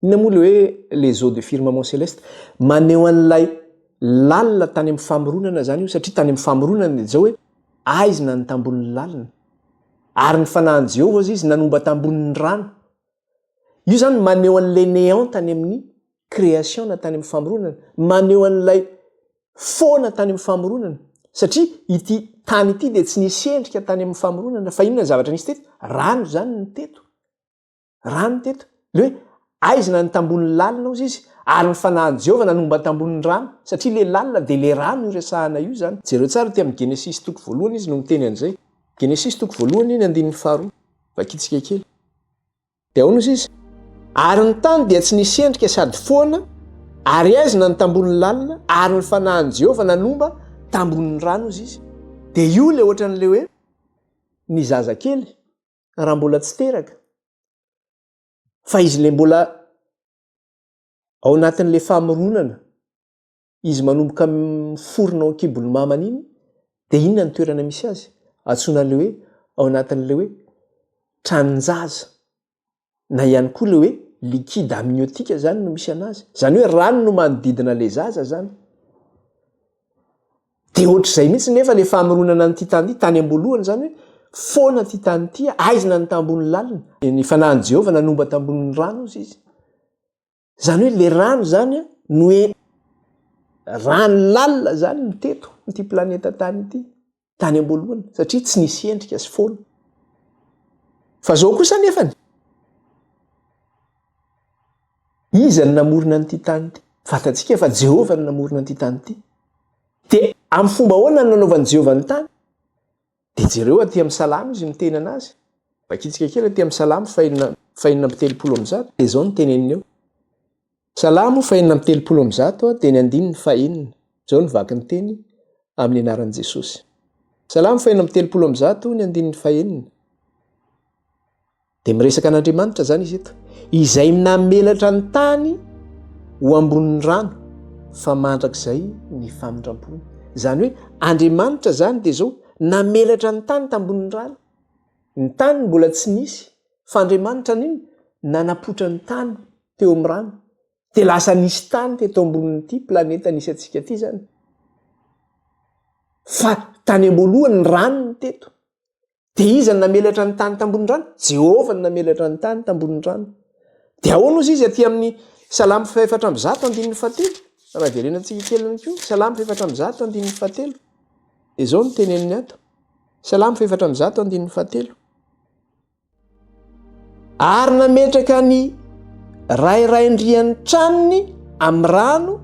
Inona moa ilay hoe les eaux de firmament céleste? Maneho an'ilay lalina tany amin'ny famoronana izany io, satria tany amin'ny famoronana dia izao hoe aizina ny tambohon'ny lalina. Ary ny fanahin'i Jehovah hozy izy nanomba tambohon'ny rano. Io izany maneho an'ilay néant tany amin'ny création na tany amin'ny famoronana, maneho an'ilay foana tany amin'ny famoronana, satria ity tany ity dia tsy nisy endrika tany amin'ny famoronana, fa inona ny zavatra nisy teto? Rano izany no teto. rano teto le hoe aizina ny tambon'ny lalina ozy izy ary ny fanahin'i jehovah nanomba ny tambon'ny rano satria le lalina dia le rano io resahana io izany jereo tsara ty amin'ny genesisy toko voalohany izy no miteny an'izay genesisy toko voalohany ny andininy faharoa vakitsika kely dia aona ozy izy ary ny tany dia tsy nisy endrika sady foana ary aizina ny tambon'ny lalina ary ny fanahin'i jehovah nanomba tambon'ny rano ozy izy dia io le ohatran'le hoe ny zazakely raha mbola tsy teraka fa izy le mbola ao anatin'le famoronana izy manomboka miforona ao ankibon'ny mamany iny de inona ny toerana misy azy atsoina le hoe ao anatin'le hoe tranonjaza na ihany koa le hoe liquide amniotique zany no misy anazy zany hoe rano no manodidina le zaza zany de ohatr'izay mihitsy nefa le famoronana an'ity tany ity tany am-boalohany zany hoe foana ty tany ity aizina ny tambony lalina ny fanahin'i Jehovah nanomba tambonin'ny rano izy izy zany hoe le rano zany no hoe rano lalina zany ny teto ity planeta tany ity tany amboalohany satria tsy nisy endrika sy foana fa zao kosa nefany iza ny namorona n'ity tany ity fantatsika efa jehovah ny namorona an'ity tany ity de amin'ny fomba hoana ny nanaovan'i jehovah ny tany Dia jereo aty amin'ny Salamo izy miteny an'azy. Vakitsika kely aty amin'ny Salamo fahenina fahenina amby telopolo amby zato dia izao ny teneniny eo. Salamo fahenina amby telopolo amby zato dia ny andininy fahenina. Izao ny vaky ny teny amin'ny anaran'i Jesosy. Salamo fahenina amby telopolo amby zato ny andininy fahenina. dia miresaka an'andriamanitra zany izy eto izay namelatra ny tany ho ambonin'ny rano fa mandrakizay ny famindrampony zany hoe andriamanitra zany dia zao namelatra ny tany tambonin'ny rano ny tany mbola tsy nisy fa andriamanitra niny nanapotra ny tany teo am'ny rano dia lasa nisy tany te to ambonin'ity planeta nisy atsika ty zany fa tany amboalohany ny rano ny teto Dia iza no namelatra ny tany tambonin'ny rano? Jehovah no namelatra ny tany tambonin'ny rano. Dia ahoana hozy izy aty amin'ny Salamo fahefatra amby zato andininy fahatelo? Raha jerena tsika kely ihany koa, Salamo fahefatra amby zato andininy fahatelo. Izao no teneniny ato. Salamo fahefatra amby zato andininy fahatelo. Ary nametraka ny rairaindrian'ny tranony amin'ny rano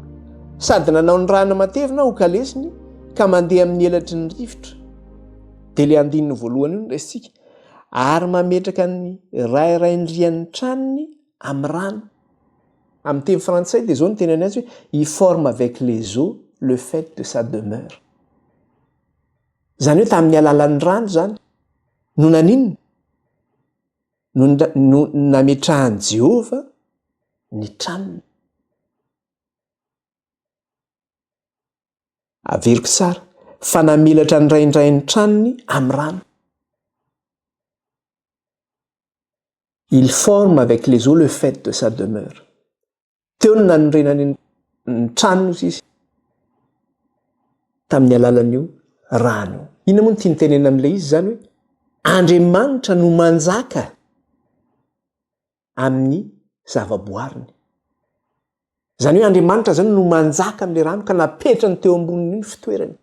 sady nanao ny rana matevina ho kalesiny ka mandeha amin'ny elatry ny rivotra. Dia ilay andininy voalohany io no raisintsika, Ary mametraka ny rairaindrian'ny tranony amin'ny rano. Amin'ny teny frantsay dia izao no teneniny azy hoe, il forme avec les eaux le fait de sa demeure. Izany hoe tamin'ny alalan'ny rano izany no naninona? No nametrahan'i Jehovah ny tranony. Averiko tsara fa namelatra ny raindray ny tranony amin'ny rano. Il forme avec les eaux le fait de sa demeure. Teo no nanorenany ny tranony hoy izy tamin'ny alalan'io rano io. Inona moa no tiany tenenina amin'ilay izy izany hoe Andriamanitra no manjaka amin'ny zavaboariny. Izany hoe Andriamanitra izany no manjaka amin'ilay rano ka napetrany teo ambonin'io ny fitoerany.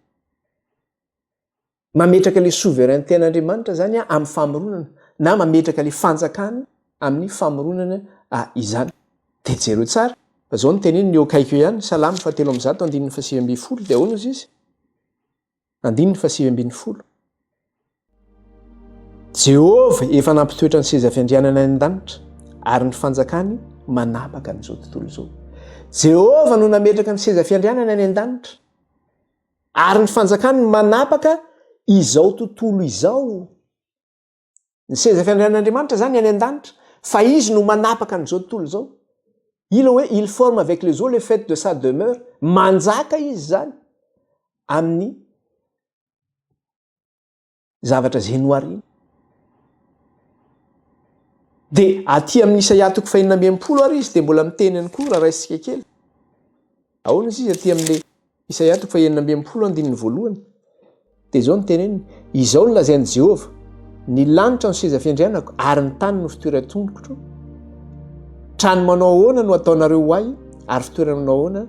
Mametraka ilay souverainten'Andriamanitra izany amin'ny famoronana, na mametraka ilay fanjakany amin'ny famoronana izany. Dia jereo tsara, fa izao no teneniny eo akaiky eo ihany, Salamo fahatelo amby zato andininy fahasivy ambin'ny folo, dia ahoana hozy izy? Andininy fahasivy ambin'ny folo. Jehovah efa nampitoetra ny seza fiandrianana any an-danitra, ary ny fanjakany manapaka an'izao tontolo izao. Jehovah no nametraka ny seza fiandrianana any an-danitra. Ary ny fanjakany no manapaka izao tontolo izao. Ny seza fiandrianan'Andriamanitra izany any an-danitra, fa Izy no manapaka an'izao tontolo izao. Io ilay hoe il forme avec les eaux le fait de sa demeure, manjaka Izy izany amin'ny zavatra izay noharina. Dia aty amin'ny Isaia toko fahenina amby enimpolo ary izy dia mbola miteny ihany koa raha raisitsika kely. Ahoana izy izy aty amin'ny Isaia toko fahenina amby enimpolo andininy voalohany. Dia izao ny teneniny, izao ny lazain'i Jehovah, ny lanitra no seza fiandrianako ary ny tany no fitoeran-tongotro. Trano manao ahoana no ataonareo ho ahy ary fitoerana manao ahoana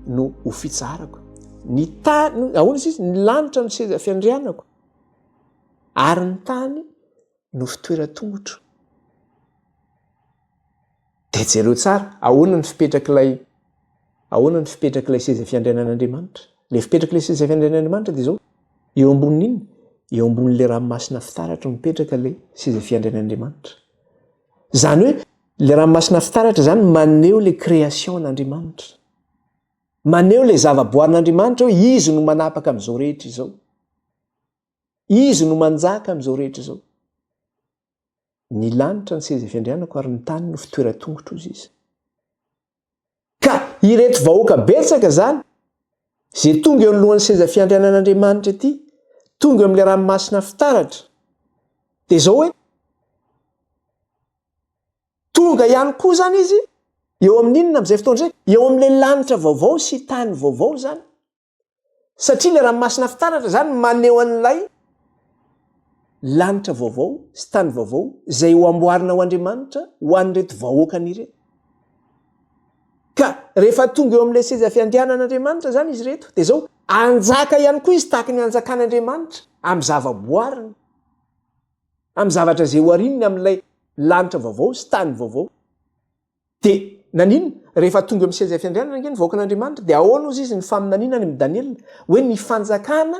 no ho fitsaharako. ny tany ahoana izy izy ny lanitra no seza fiandrianako ary ny tany no fitoeran-tongotro de jereo tsara ahoana ny fipetrak'ilay ahoana ny fipetrak'ilay seza fiandrianan'andriamanitra le fipetrak'ilay seza fiandrianan'andriamanitra de zao eo ambonin'inona eo ambonin'le ranomasina fitaratra mipetraka le seza fiandrianan'andriamanitra zany hoe le ranomasina fitaratra zany maneho le création an'andriamanitra Maneho ilay zavaboarin'Andriamanitra hoe Izy no manapaka amin'izao rehetra izao. Izy no manjaka amin'izao rehetra izao. Ny lanitra ny seza fiandrianako ary ny tany no fitoeran-tongotr'ozy Izy. Ka ireto vahoaka betsaka izany, izay tonga eo anoloan'ny seza fiandrianan'Andriamanitra ity, tonga eo amin'ilay ranomasina fitaratra, dia izao hoe, Tonga ihany koa izany izy eo amin'inona amin'izay fotoana izay? Eo amin'ilay lanitra vaovao sy tany vaovao izany. Satria ilay ranomasina fitaratra izany maneho an'ilay lanitra vaovao sy tany vaovao izay ho amboarina ho Andriamanitra ho an'ireto vahoakany ireto. Ka rehefa tonga eo amin'ilay seza fiandrianan'Andriamanitra izany izy ireto, dia izao, hanjaka ihany koa izy tahaka ny hanjakan'Andriamanitra amin'ny zavaboariny. amin'ny zavatra izay hoharininy amin'ilay lanitra vaovao sy tany vaovao. Dia naninona? Rehefa tonga eo amin'ny seza fiandrianana ange ny vahoakan'Andriamanitra, dia ahoana hozy izy ny faminaniana any amin'i Daniela hoe ny fanjakana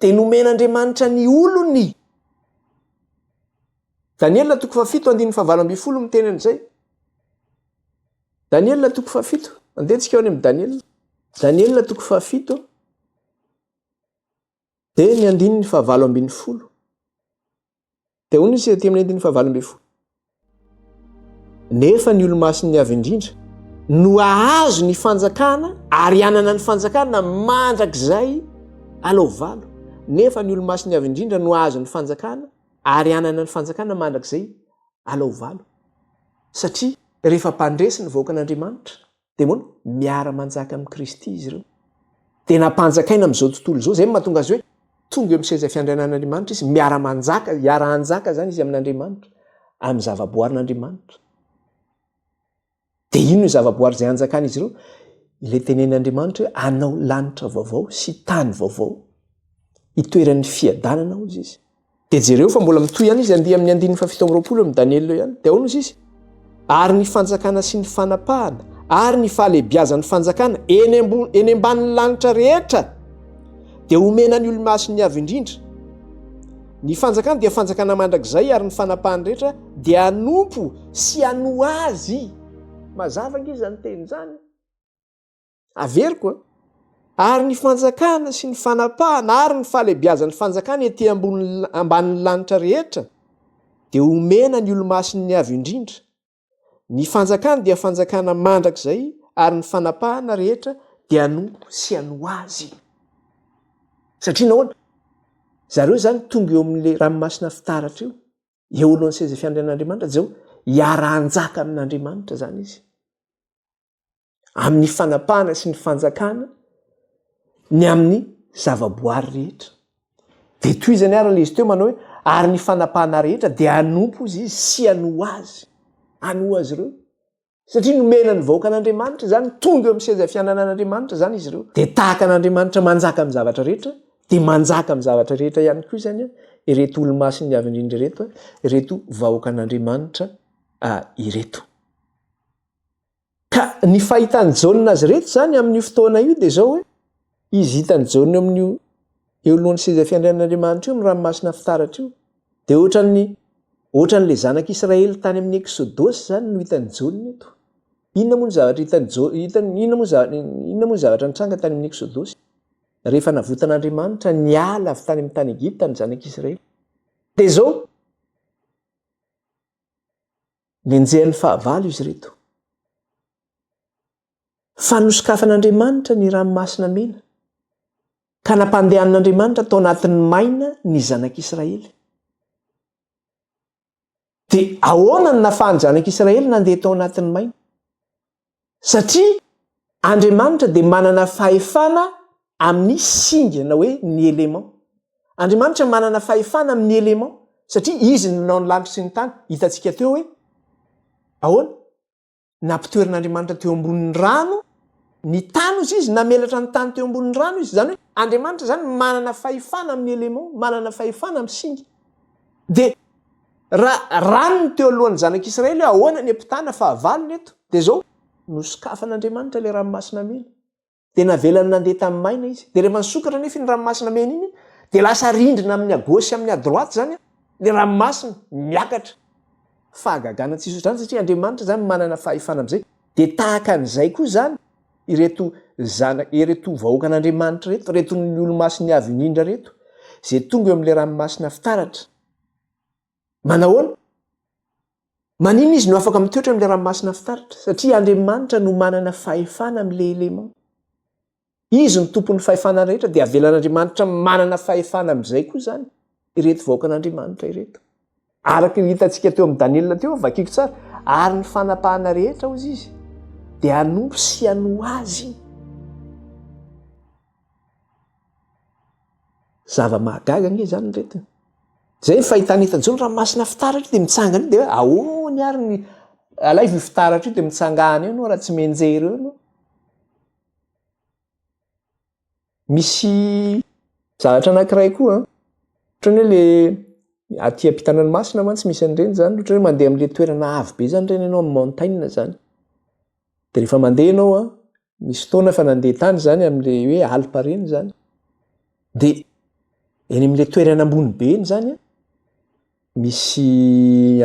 dia nomen'Andriamanitra ny olony? Daniela toko fahafito andininy fahavalo ambin'ny folo miteny an'izay. Daniela toko fahafito. Andehantsika eo any amin'i Daniela. Daniela toko fahafito. Dia ny andininy fahavalo ambin'ny folo. Dia hoy ny izy aty amin'ny andininy fahavalo ambin'ny folo. Nefa ny olomasin'ny avy indrindra no hahazo ny fanjakana ary hanana ny fanjakana mandrakizay alao valo. Nefa ny olomasin'ny avy indrindra no hahazo ny fanjakana ary hanana ny fanjakana mandrakizay alao valo. Satria rehefa mpandresy ny vahoakan'Andriamanitra, Dia ahoana? Miara-manjaka amin'i Kristy izy ireo. Dia nampanjakaina amin'izao tontolo izao. Izay no mahatonga azy hoe tonga eo amin'ny seza fiandrianan'Andriamanitra izy. Miara-manjaka, hiara-hanjaka izany izy amin'Andriamanitra, amin'ny zavaboarin'Andriamanitra. Dia inona io zavaboary izay hanjakan'izy ireo? Ilay tenen'Andriamanitra hoe hanao lanitra vaovao sy tany vaovao. Hitoeran'ny fiadanana, hoy izy. Dia jereo fa mbola mitohy ihany izy handihy amin'ny andininy fahafito amby roapolo amin'i Daniela eo ihany. Dia ahoana hozy izy? Ary ny fanjakana sy ny fanapahana ary ny fahalehibiazan'ny fanjakana eny ambony eny ambanin'ny lanitra rehetra dia homena ny olomasiny avy indrindra. Ny fanjakana dia fanjakana mandrakizay ary ny fanapahany rehetra dia hanompo sy hanoa azy. Mazava ange izany teny izany. Averiko an! Ary ny fanjakana sy ny fanapahana ary ny fahalebiazan'ny fanjakana ety ambony ambanin'ny lanitra rehetra dia omena ny olomasin'ny Avo Indrindra. Ny fanjakana dia fanjakana mandrakizay ary ny fanapahana rehetra dia anompo sy ano Azy. Satria nahoana? Zareo izany tonga eo amin'ilay ranomasina fitaratra io, eo alohan'ny seza fiandrianan'Andriamanitra, dia hoe hiara-hanjaka amin'Andriamanitra izany izy. amin'ny fanapahana sy ny fanjakana ny amin'ny zavaboary rehetra. Dia tohizany ary ilay izy teo manao hoe, ary ny fanapahana rehetra dia hanompo izy izy sy hanoa azy, hanoa azy ireo. Satria nomena ny vahoaka an'Andriamanitra izany, tonga eo amin'ny seza fiananan'Andriamanitra izany izy ireo. Dia tahaka an'Andriamanitra manjaka amin'ny zavatra rehetra, dia manjaka amin'ny zavatra rehetra ihany koa izany ireto olomasin'ny Avy Indrindra ireto, ireto vahoakan'Andriamanitra ireto. Ka ny fahitan'i Jaona azy ireto izany amin'io fotoana io dia izao hoe, izy hitan'i Jaona eo amin'io eo alohan'ny seza fiandrianan'Andriamanitra io, ny ranomasina fitaratra io, dia ohatran'ny ohatran'ilay zanak'Israely tany amin'ny Eksodosy izany no hitan'i Jaona eto. Inona moa ny zavatra hitan'i Jaona, hitan'ny inona moa zavatra inona moa ny zavatra nitranga tany amin'ny Eksodosy? Rehefa navotan'Andriamanitra niala avy tany amin'ny tany Egypta ny zanak'Israely. Dia izao, Nenjehan'ny fahavalo izy ireto. Fa nosokafan'Andriamanitra ny ranomasina mena, ka nampandehanin'Andriamanitra tao anatin'ny maina ny zanak'Israely. Dia ahoana no nafahan'ny zanak'Israely nandeha tao anatin'ny maina? Satria Andriamanitra dia manana fahefana amin'ny singa na hoe ny éléments. Andriamanitra manana fahefana amin'ny éléments satria Izy no nanao ny lanitra sy ny tany. Hitantsika teo hoe ahoana? Nampitoeran'Andriamanitra teo ambonin'ny rano ny tany hoy Izy, namelatra ny tany teo ambonin'ny rano Izy. Izany hoe Andriamanitra izany manana fahefana amin'ny éléments, manana fahefana amin'ny singa. Dia. Raha ranony teo alohan'ny zanak'Israely hoe ahoana ny ampitana fahavalony eto, dia izao, Nosokafan'Andriamanitra ilay ranomasina mena, dia navelany nandeha tamin'ny maina izy. Dia rehefa nisokatra anefa iny ranomasina mena iny, dia lasa rindrina amin'ny à gauche amin'ny à droite izany ilay ranomasina, miakatra. Fahagagana tsy misy ohatr'izany, satria Andriamanitra izany manana fahefana amin'izay. Dia tahaka an'izay koa izany, ireto zana, ireto vahoakan'Andriamanitra ireto, ireto ny olomasin'ny Avo Indrindra ireto, izay tonga eo amin'ilay ranomasina fitaratra. Manahoana? Maninona izy no afaka mitoetra amin'ilay ranomasina fitaratra? Satria Andriamanitra no manana fahefana amin'ilay élément. Izy no tompon'ny fahefana rehetra dia avelan'Andriamanitra manana fahefana amin'izay koa izany ireto vahoakan'Andriamanitra ireto. Araka io hitantsika teo amin'ny Daniela teo, vakiko tsara, ary ny fanapahana rehetra, hozy izy, dia hanompo sy hanoa azy. Zava-mahagaga anie izany ry reto. Izay ny fahitana eto an-jo ny ranomasina fitaratra io dia mitsangana io dia hoe ahoany ary ny alaivo io fitaratra io dia mitsangana eo ianao raha tsy mianjery eo ianao. Misy zavatra anankiray koa an. Ohatran'ny hoe le aty am-pitana ny masina mantsy misy an'ireny izany, ohatran'ny hoe mandeha amin'ilay toerana avo be izany ireny ianao amin'ny montagne izany. Dia rehefa mandeha ianao an, nisy fotoana efa nandeha tany izany amin'le hoe Alpes ireny izany de eny amin'le toerana ambony be eny izany a, misy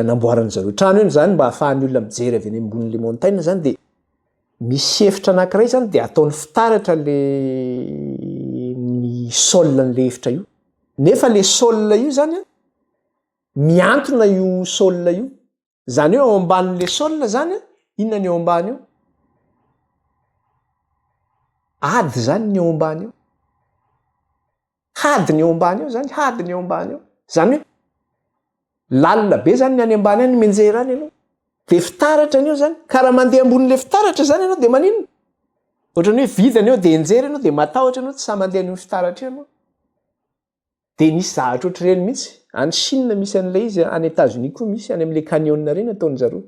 anamboaran'ny zareo trano eny izany mba ahafahan'ny olona mijery avy eny ambonin'le montaina izany de misy efitra anankiray izany de ataony fitaratra le ny sol an'le efitra io, nefa le sol io izany a, mihantona io sol io. Zany hoe ao ambanin' le sol zany a, inona ny ao ambany eo? Ady zany ny ao ambany eo. Hady ny ao ambany eo zany, hady ny ao ambany eo. Zany hoe lalina be zany ny any ambany any menjera any aloha. De fitaratra ny eo zany. Ka raha mandeha ambonin' le fitaratra zany ianao de maninona? Ohatrany hoe vidina ny eo de enjera ianao de matahotra ianao tsy sahy mandeha an' io fitaratra io ianao. Dia nisy zavatra ohatr'ireny mihitsy. Any Chine misy an'ilay izy an, any Etazonia koa misy, any amin'ilay canyon ireny ataon-dry zareo.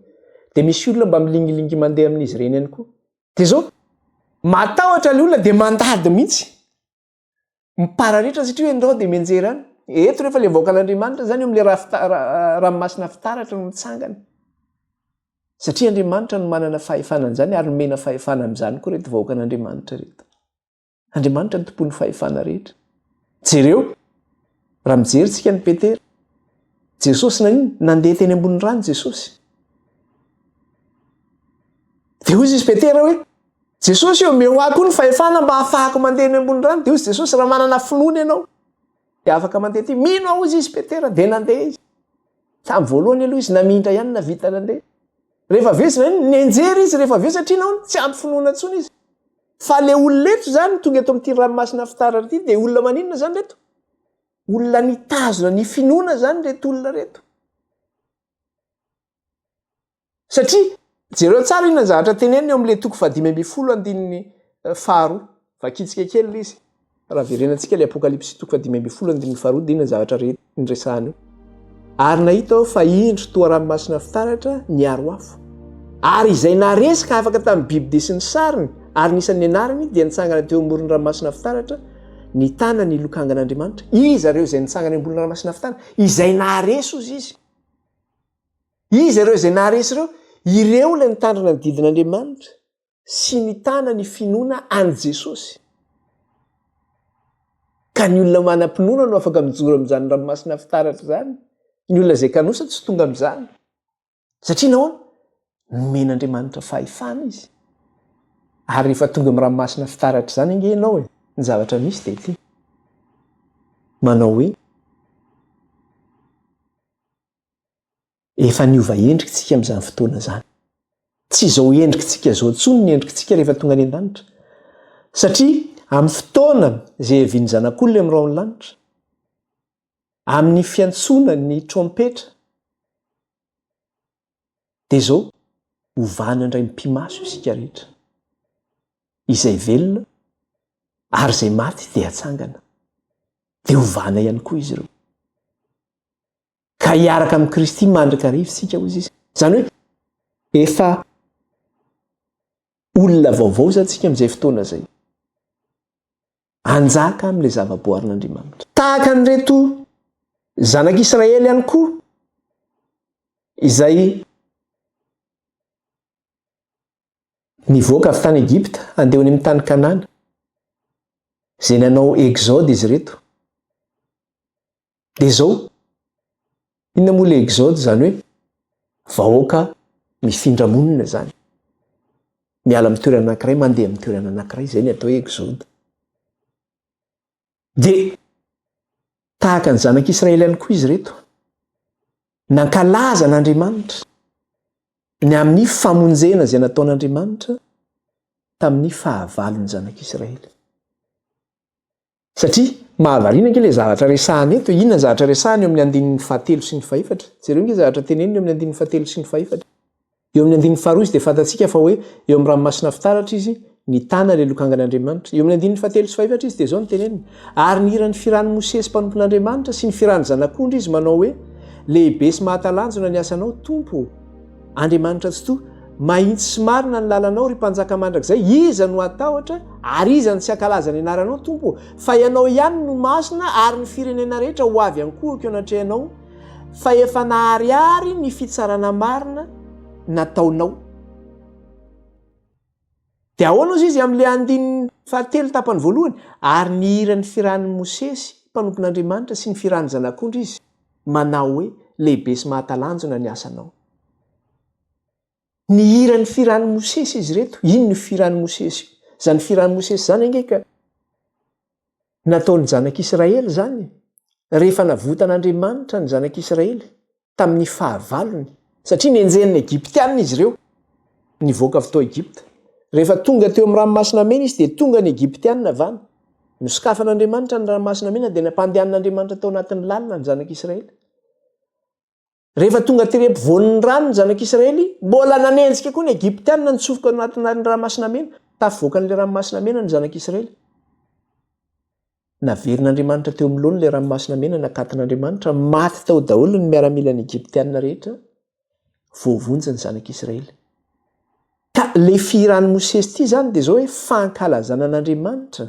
Dia misy olona mba milingilingy mandeha amin'izy ireny ihany koa. Dia izao, matahotra ilay olona dia mandady mihitsy. Mipararetra satria hoe ndao dia mianjera any. Eto rehefa ilay vahoakan'Andriamanitra izany eo amin'ilay ra fita, ra, ranomasina fitaratra no mitsangana. Satria Andriamanitra no manana fahefana an'izany ary nomena fahefana amin'izany koa ireto vahoakan'Andriamanitra ireto. Andriamanitra ny tompon'ny fahefana rehetra. Jereo, raha mijery tsika ny Petera, Jesosy nanino, nandeha teny ambony rano Jesosy. Dia hoy izy Petera hoe, Jesosy eo, meo ahy koa ny fahefana mba hafahako mandeha ny ambony rano. Dia hoy Jesosy, raha manana finoana ianao, dia afaka mandeha ty. Mino aho izy izy Petera, dia nandeha izy. Tamin'ny voalohany aloha izy namindra ihany na vita nandeha. Rehefa avy eo izy nenjery izy rehefa avy eo satria nahoana tsy ampy finoana intsony izy. Fa le olona eto zany tonga eto amin'ity ranomasina fitaratra ity dia olona maninona zany reto? Olona nitazona ny finoana zany reto olona reto. Satria jereo tsara inona ny zavatra teneniny eo amin'le toko fahadimy ambin'ny folo andininy faharoa. Vakintsika kely le izy. Raha verenantsika ilay Apokalypsy toko fahadimy ambin'ny folo andininy faharoa dia inona ny zavatra rehetra noresahany eo? Ary nahita aho fa indro toa ranomasina fitaratra niaro afo. Ary izay naharesy ka afaka tamin'ny biby dia sy ny sariny ary ny isan'ny anarany dia nitsangana teo amoron'ny ranomasina fitaratra, nitana ny lokangan'Andriamanitra. Iza ireo izay nitsangana eo ambonin'ny ranomasina fitaratra? Izay naharesy, hoy izy. Iza ireo izay naharesy ireo? Ireo ilay nitandrina ny didin'Andriamanitra. sy nitana ny finoana an'i Jesosy. Ka ny olona manam-pinoana no afaka mijoro amin'izany ranomasina fitaratra izany. Ny olona izay kanosa tsy tonga amin'izany. Satria nahoana? Nomen'Andriamanitra fahefana izy. Ary rehefa tonga amin'ny ranomasina fitaratra izany ange ianao e, ny zavatra misy dia ity. Manao hoe, Efa niova endrika isika amin'izany fotoana izany. Tsy izao endriktsika izao intsony ny endriktsika rehefa tonga any an-danitra. Satria amin'ny fotoana izay hiavian'ny Zanak'olona amin'ny rahon'ny lanitra, amin'ny fiantsoana ny trompetra, dia izao, hovana indray mipimaso isika rehetra. Izay velona ary izay maty dia hatsangana. Dia hovana ihany koa izy ireo. ka hiaraka amin'i Kristy mandrakariva isika, hoy izy. Izany hoe efa olona vaovao izany isika amin'izay fotoana izay. Anjaka amin'ilay zavaboarin'Andriamanitra. Tahaka an'ireto zanak'Israely ihany koa izay nivoaka avy tany Egypta handeha any amin'ny tany Kanana, izay nanao exode izy ireto. Dia izao, inona moa ilay exode izany hoe vahoaka mifindra monina izany. Miala amin'ny toerana anankiray mandeha amin'ny toerana anankiray, izay ny atao hoe exode. Dia tahaka ny zanak'Israely ihany koa izy ireto. Nankalaza an'Andriamanitra ny amin'ny famonjena izay nataon'Andriamanitra tamin'ny fahavalon'ny zanak'Israely. Satria mahavariana ange ilay zavatra resahana eto e! Inona ny zavatra resahana eo amin'ny andininy fahatelo sy ny fahefatra? Jereo ange zavatra teneniny eo amin'ny andininy fahatelo sy ny fahefatra. Eo amin'ny andininy faharoa izy dia fantatsika fa hoe eo amin'ny ranomasina fitaratra izy nitana ilay lokangan'Andriamanitra. Eo amin'ny andininy fahatelo sy fahefatra izy dia izao no teneniny, Ary nihira ny firan'i Mosesy mpanompon'Andriamanitra sy ny firan'ny Zanak'ondry izy manao hoe, Lehibe sy mahatalanjona ny asanao, Tompo ô! Andriamanitra tsy toa, mahitsy sy marina ny lalanao, ry Mpanjaka mandrakizay, iza no hatahotra, ary iza no tsy hankalaza ny anaranao, Tompo ô? Fa ianao ihany no masina, ary ny firenena rehetra ho avy an-kohaka eo anatrehanao, fa efa naharihary ny fitsarana marina nataonao. Dia ahoana hozy izy amin'ilay andininy fahatelo tapany voalohany? Ary nihira ny firan'i Mosesy mpanompon'Andriamanitra sy ny firan'ny Zanak'ondry izy, manao hoe, Lehibe sy mahatalanjona ny asanao. Nihira ny firan'i Mosesy izy ireto. Inona io firan'i Mosesy io? Izany firan'i Mosesy izany ange ka. Nataon'ny Zanak'Israely izany rehefa navotan'Andriamanitra ny Zanak'Israely tamin'ny fahavalony, satria nenjehin'ny Egyptiana izy ireo nivoaka avy tao Egypta. Rehefa tonga teo amin'ny Ranomasina Mena izy dia tonga ny Egyptiana avy any. Nosokafan'Andriamanitra ny Ranomasina Mena dia nampandehanin'Andriamanitra tao anatin'ny lalina ny Zanak'Israely. Rehefa tonga tery ampovoan'ny rano ny zanak'Israely, mbola nanenjika koa ny Egyptiana nitsofoka ao anatin'ny Ranomasina Mena. Tafivoakan'ilay Ranomasina Mena ny zanak'Israely. Naverin'Andriamanitra teo amin'ny laoniny ilay Ranomasina Mena nakatin'Andriamanitra. Maty tao daholo ny miaramilan'ny Egyptiana rehetra. Voavonjy ny zanak'Israely. Ka ilay fihiran'i Mosesy ity izany dia izao hoe, fankalazana an'Andriamanitra,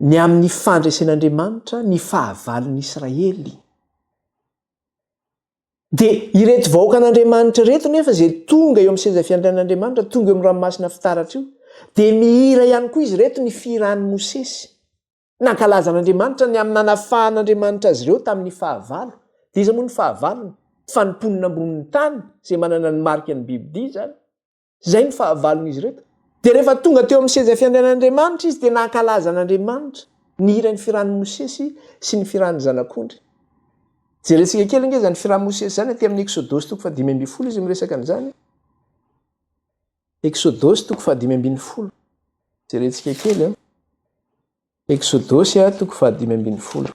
ny amin'ny fandresen'Andriamanitra ny fahavalon'i Israely. Dia ireto vahoakan'Andriamanitra ireto nefa izay tonga eo amin'ny seza fiandrianan'Andriamanitra, tonga eo amin'ny ranomasina fitaratra io, dia mihira ihany koa izy ireto ny fihiran'i Mosesy. Nankalaza an'Andriamanitra ny amin'ny nanafahan'Andriamanitra azy ireo tamin'ny fahavalo. Dia iza moa ny fahavalony? Fa ny mponina ambonin'ny tany, izay manana ny marika ny bibidia izany. Izay no fahavalon'izy ireto. Dia rehefa tonga teo amin'ny seza fiandrianan'Andriamanitra izy dia nankalaza an'Andriamanitra, nihira ny firan'i Mosesy sy ny firan'ny Zanak'ondry. Jerentsika kely ange izany firan'i Mosesy izany aty amin'ny Eksodosy toko fahadimy ambin'ny folo izy miresaka an'izany. Eksodosy toko fahadimy ambin'ny folo. Jerentsika kely an. Eksodosy a toko fahadimy ambin'ny folo.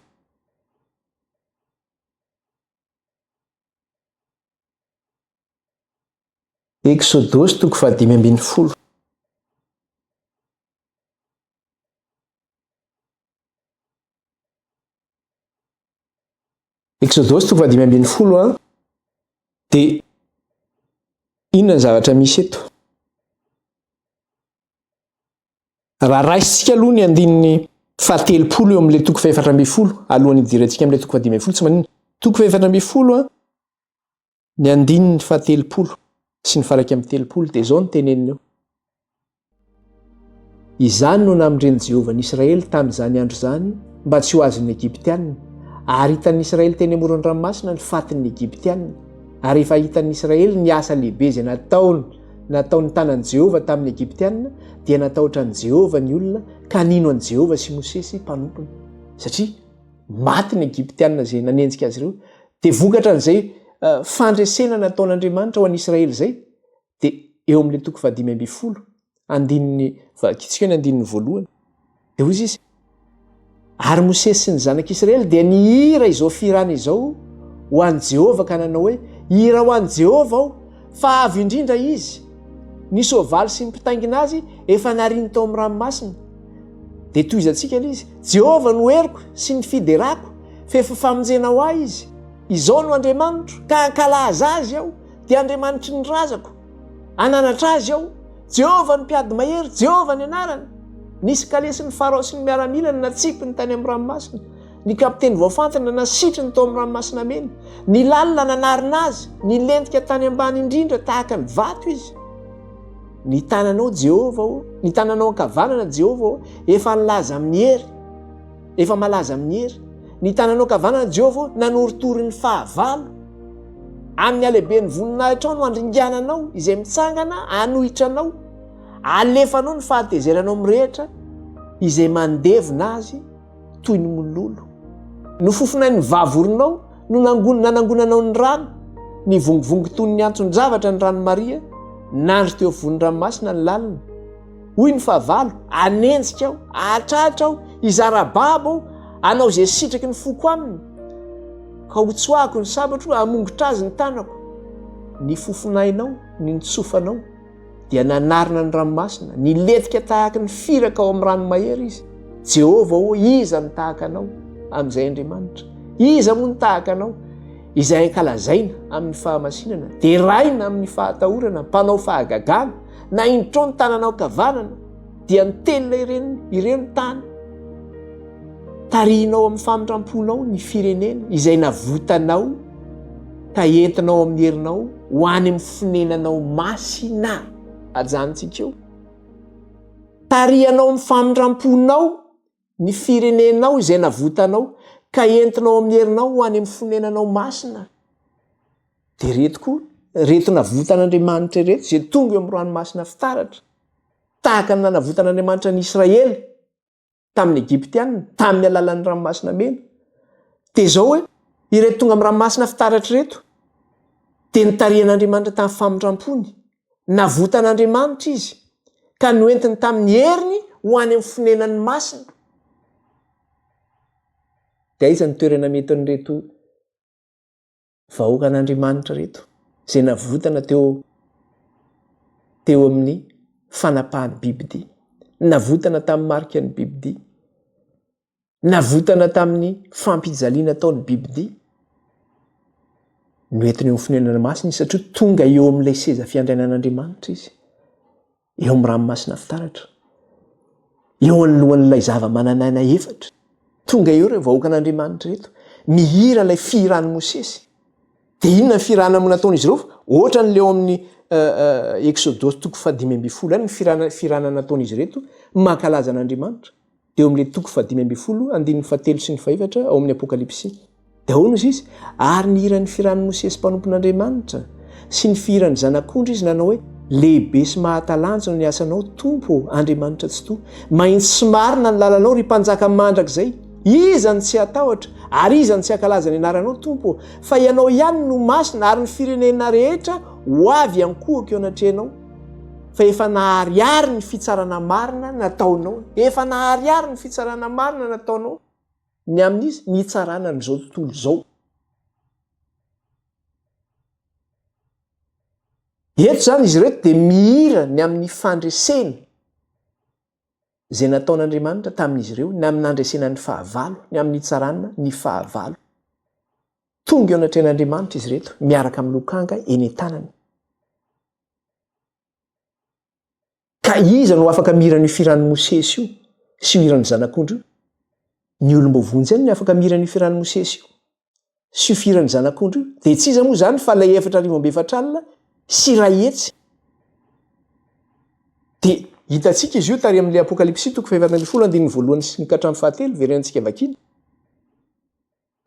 Eksodosy toko fahadimy ambin'ny folo. Exodosy toko fahadimy ambin'ny folo a de inona ny zavatra misy eto raha raisintsika aloha ny andininy fahatelopolo eo amin'ilay toko fahefatra ambin'ny folo alohan'ny hidirantsika amin'ilay toko fahadimy ambin'ny folo tsy manina toko fahefatra ambin'ny folo a Ny andininy fahatelopolo sy ny faraika amin'ny telopolo dia izao ny teneniny eo. Izany no namindren'i Jehovah ny Israely tamin'izany andro izany mba tsy ho azon'ny Egyptianina, ary hitan'ny Israely teny amoron'ny ranomasina ny fatin'ny Egyptianina, ary efa hitan'ny Israely ny asa lehibe izay nataony nataon'ny tanan'i Jehovah tamin'ny Egyptianina, dia natahotra an'i Jehovah ny olona ka nino an'i Jehovah sy Mosesy mpanompony, satria maty ny Egyptianina izay nanenjika azy ireo Dia vokatra an'izay fandresena nataon'Andriamanitra ho an'i Israely izay, dia eo amin'ilay toko fahadimy ambin'ny folo, andininy, vakitsika eo ny andininy voalohany, dia hoy izy, Ary Mosesy sy ny zanak'Israely dia nihira izao fihirana izao ho an'i Jehovah ka nanao hoe, Hira ho an'i Jehovah aho, fa avo indrindra izy, ny soavaly sy ny mpitaingina azy efa nariany tao amin'ny ranomasina. Dia tohizantsika ilay izy, Jehovah no heriko sy ny fiderako, fefy famonjena ho ahy izy. Izao no Andriamanitro, ka hankalaza azy aho, dia Andriamanitry ny razako, hananatra azy aho. Jehovah no mpiady mahery, Jehovah ny anarany. Nisy kalesin'i Farao sy ny miaramilany natsipiny tany amin'ny ranomasina, ny kapiteny voafantina nasitriny tao amin'ny Ranomasina Mena. Ny lalina nanarina azy, nilentika tany ambany indrindra tahaka ny vato izy. Ny tananao Jehovah ô, ny tananao ankavanana Jehovah ô, efa nilaza amin'ny hery, efa malaza amin'ny hery. Ny tananao ankavanana Jehovah ô, nanoritory ny fahavalo. Amin'ny halehiben'ny voninahitrao no handringananao izay mitsangana hanohitra anao. Alefanao ny fahatezeranao mirehitra izay mandevona azy. toy ny mololo. Nofofona ny vavoronao no nanangonanao ny rano, nivongivongy toy ny anton-javatra ny rano Maria, nandry teo afovoan'ny ranomasina ny lalina. Hoy ny fahavalo, hanenjika aho, hahatratra aho, hizara babo aho, hanao izay sitraky ny foko aminy, ka hotsoahako ny sabatro, hamongotra azy ny tanako. Ny fofonainao, ny nitsofanao. dia nanarina ny ranomasina, nilentika tahaka ny firaka ao amin'ny ranomahery izy. Jehovah ô, iza no tahaka anao amin'izay Andriamanitra? Iza moa no tahaka anao izay ankalazaina amin'ny fahamasinana, deraina amin'ny fahatahorana, mpanao fahagagana, na indro trao ny tananao kavanana, dia ny telina ireny ireo ny tany tarihinao amin'ny famindramponao ny firenena izay navotanao ka entinao amin'ny herinao ho any amin'ny fonenanao masina ajanontsika eo tarihanao amin'ny famindramponao ny firenenao izay navotanao ka entinao amin'ny herinao ho any amin'ny fonenanao masina, dia ireto koa, ireto navotan'Andriamanitra ireto izay tonga eo amin'ny ranomasina fitaratra, tahaka ny nanavotan'Andriamanitra ny Israely tamin'ny Egyptiana tamin'ny alalan'ny ranomasina mena, dia izao hoe, ireto tonga amin'ny ranomasina fitaratra ireto dia notarihan'Andriamanitra tamin'ny famindram-pony Navotan'Andriamanitra izy, ka noentiny tamin'ny heriny ho any amin'ny fonenany masina. Dia aiza ny toerana metin'ireto vahoakan'Andriamanitra ireto, izay navotana teo teo amin'ny fanapahan'ny bibidia, navotana tamin'ny marikan'ny bibidia? Navotana tamin'ny fampijaliana ataon'ny bibidia no entiny eo amin'ny fonenana masina izy, satria tonga eo amin'ilay seza fiandrianan'Andriamanitra izy, eo amin'ny ranomasina fitaratra, eo anoloan'ilay zava-manan'aina efatra. Tonga eo ireo vahoakan'Andriamanitra ireto, mihira ilay fihiran'i Mosesy. Dia inona ny fihirana no nataon'izy ireo? Ohatran'ilay ao amin'ny Eksodosy toko fahadimy ambin'ny folo ihany ny fihirana nataon'izy ireto mankalaza an'Andriamanitra. eo amin'ilay toko fahadimy ambin'ny folo andininy fahatelo sy ny fahefatra ao amin'ny Apokalypsy. Dia ahoana izy izy? Ary nihira ny firan'i Mosesy mpanompon'Andriamanitra sy ny fihiran'ny zanak'ondry izy nanao hoe, Lehibe sy mahatalanjona ny asanao, Tompo ô, Andriamanitra Tsitoha. Mahitsy sy marina ny lalanao, ry Mpanjaka mandrakizay. Iza no tsy hatahotra, ary iza no tsy hankalaza ny anaranao, Tompo ô? Fa ianao ihany no masina, ary ny firenena rehetra ho avy hankohaka eo anatrehanao. fa efa naharihary ny fitsarana marina nataonao, efa naharihary ny fitsarana marina nataonao ny amin'izy ny hitsarana an'izao tontolo izao. Eto izany izy ireto dia mihira ny amin'ny fandreseny izay nataon'Andriamanitra tamin'izy ireo, ny amin'ny nandresena ny fahavalo, ny amin'ny hitsarana ny fahavalo. Tonga eo anatrehan'Andriamanitra izy ireto miaraka amin'ny lokanga eny an-tanany. Ka iza no afaka mihira an'io firan'i Mosesy io sy io hiran'ny Zanak'ondry io? Ny olom-boavoantsy ihany no afaka mihira an'io firan'i Mosesy io sy io firan'ny Zanak'ondry io. Dia tsy iza moa izany fa ilay efatra arivo amby efatra alina sy iray hetsy. Dia hitantsika izy io tary amin'ilay Apokalypsy toko fahefatra ambin'ny folo andininy voalohany sy ny ka hatramin'ny fahatelo, very antsika vakiana.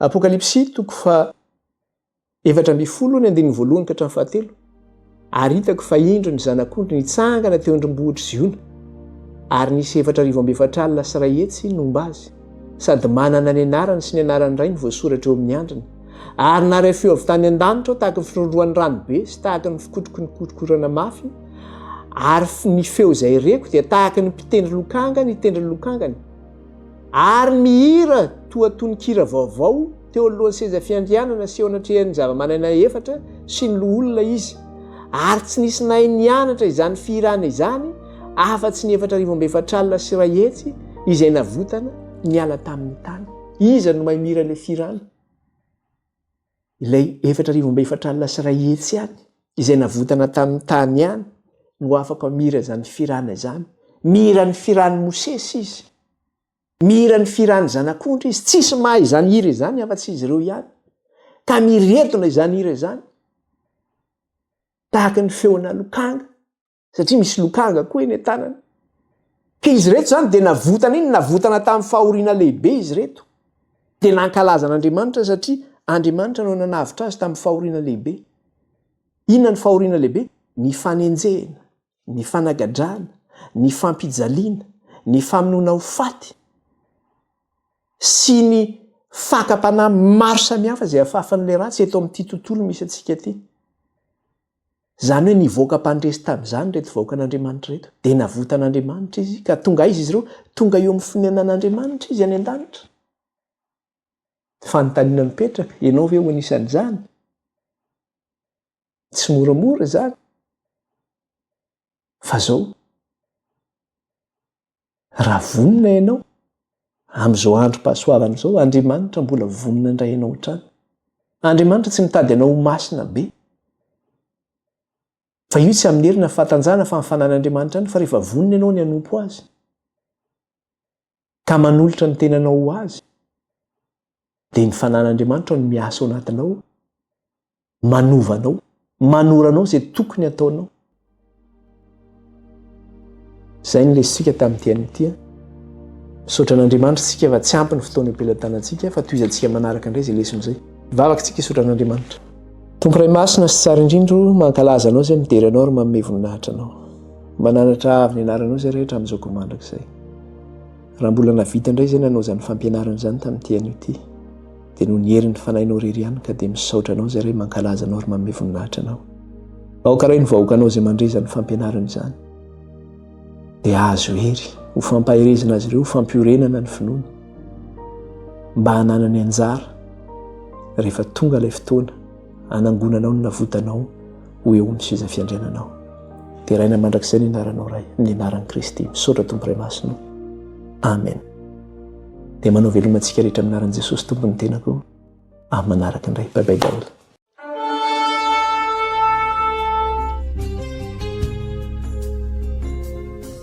Apokalypsy toko faha efatra ambin'ny folo ny andininy voalohany ka hatramin'ny fahatelo. Ary hitako fa indro ny zanak'ondry nitsangana teo an-drombohitr'i Ziona, ary nisy efatra arivo amby efatra alina sy iray hetsy nomba azy, sady manana ny anarany sy ny anaran'ny Rainy voasoratra eo amin'ny handriny. Ary naharay feo avy tany an-danitra aho tahaka ny firondrohan'ny ranobe sy tahaka ny fikotroky ny korokorana mafy, ary ny feo izay reko dia tahaka ny mpitendry lokanga nitendry ny lokangany. Ary mihira toa tononkira vaovao teo anoloan'ny seza fiandrianana sy eo anatrehan'ny zavamananaina efatra sy ny loholona izy, ary tsy nisy nahay nianatra izany fihirana izany afa-tsy ny efatra arivo amby efatra alina sy iray hetsy izay navotana niala tamin'ny tany. Iza no mahay mihira ilay fihirana? Ilay efatra arivo amby efatra alina sy iray hetsy ihany izay navotana tamin'ny tany ihany no afaka mihira izany firana izany. Mihira ny firan'i Mosesy izy. Mihira ny firan'ny Zanak'ondry izy. Tsisy mahay izany hira izany afa-tsy izy ireo ihany. Tamiredona izany hira izany, tahaka ny feonà lokanga. satria misy lokanga koa eny an-tanany. Ka izy ireto izany dia navotana iny, navotana tamin'ny fahoriana lehibe izy ireto. Dia nankalaza an'Andriamanitra satria Andriamanitra no nanavotra azy tamin'ny fahoriana lehibe. Inona ny fahoriana lehibe? Ny fanenjehina, ny fanagadrana, ny fampijaliana, ny famonoana ho faty sy ny fakam-panahy maro samihafa izay afafan'ilay ratsy eto amin'ity tontolo misy antsika ity. Izany hoe nivoaka mpandresy tamin'izany ireto vahoakan'Andriamanitra ireto, dia navotan'Andriamanitra izy, ka tonga aiza izy ireo? Tonga eo amin'ny fonenan'Andriamanitra izy any an-danitra. Fanontaniana mipetraka, ianao ve ho anisan'izany? Tsy moramora izany. Fa izao, Raha vonona ianao, amin'izao androm-pahasoavana izao, Andriamanitra mbola vonona handray anao hatrany. Andriamanitra tsy mitady anao ho masina be. Fa io tsy amin'ny hery na fahatanjahana fa amin'ny fanan'Andriamanitra ihany, fa rehefa vonona ianao ny hanompo Azy, ka manolotra ny tenanao ho Azy, dia ny fanan'Andriamanitra no miasa ao anatinao, manovanao, manoranao izay tokony ataonao. Izay ny lesika tamin'ity an'ity. Misaotra an'Andriamanitra isika fa tsy ampy ny fotoana am-pelatana antsika fa tohizantsika manaraka indray izay lesona izay. Vavaka isika hisaotra an'Andriamanitra. Tompo Ray Masina sy tsara indrindra o, mankalaza anao izay midera anao ary manome voninahitra anao. Mananatra avy ny anaranao izay rehetra amin'izao koa mandrakizay. Raha mbola nahavita indray izay nanao izany fampianarana izany tamin'ity anio ity, dia noho ny herin'ny Fanahinao irery ihany ka dia misaotra Anao izay Ray mankalaza Anao ary manome voninahitra Anao. Aoka Ray ny vahoakanao izay mandre izany fampianarana izany dia ahazo hery ho fampaherezana azy ireo, ho fampiorenana ny finoany mba hananany anjara rehefa tonga ilay fotoana hanangonanao ny navotanao ho eo amin'ny seza fiandriananao. Deraina mandrakizay ny anaranao Ray, ny anaran'i Kristy. Misaotra Tompo Ray Masina. Amen. Dia manao veloma antsika rehetra amin'ny anaran'i Jesosy Tompo ny tenako. Amin'ny manaraka indray. Bye bye daholo.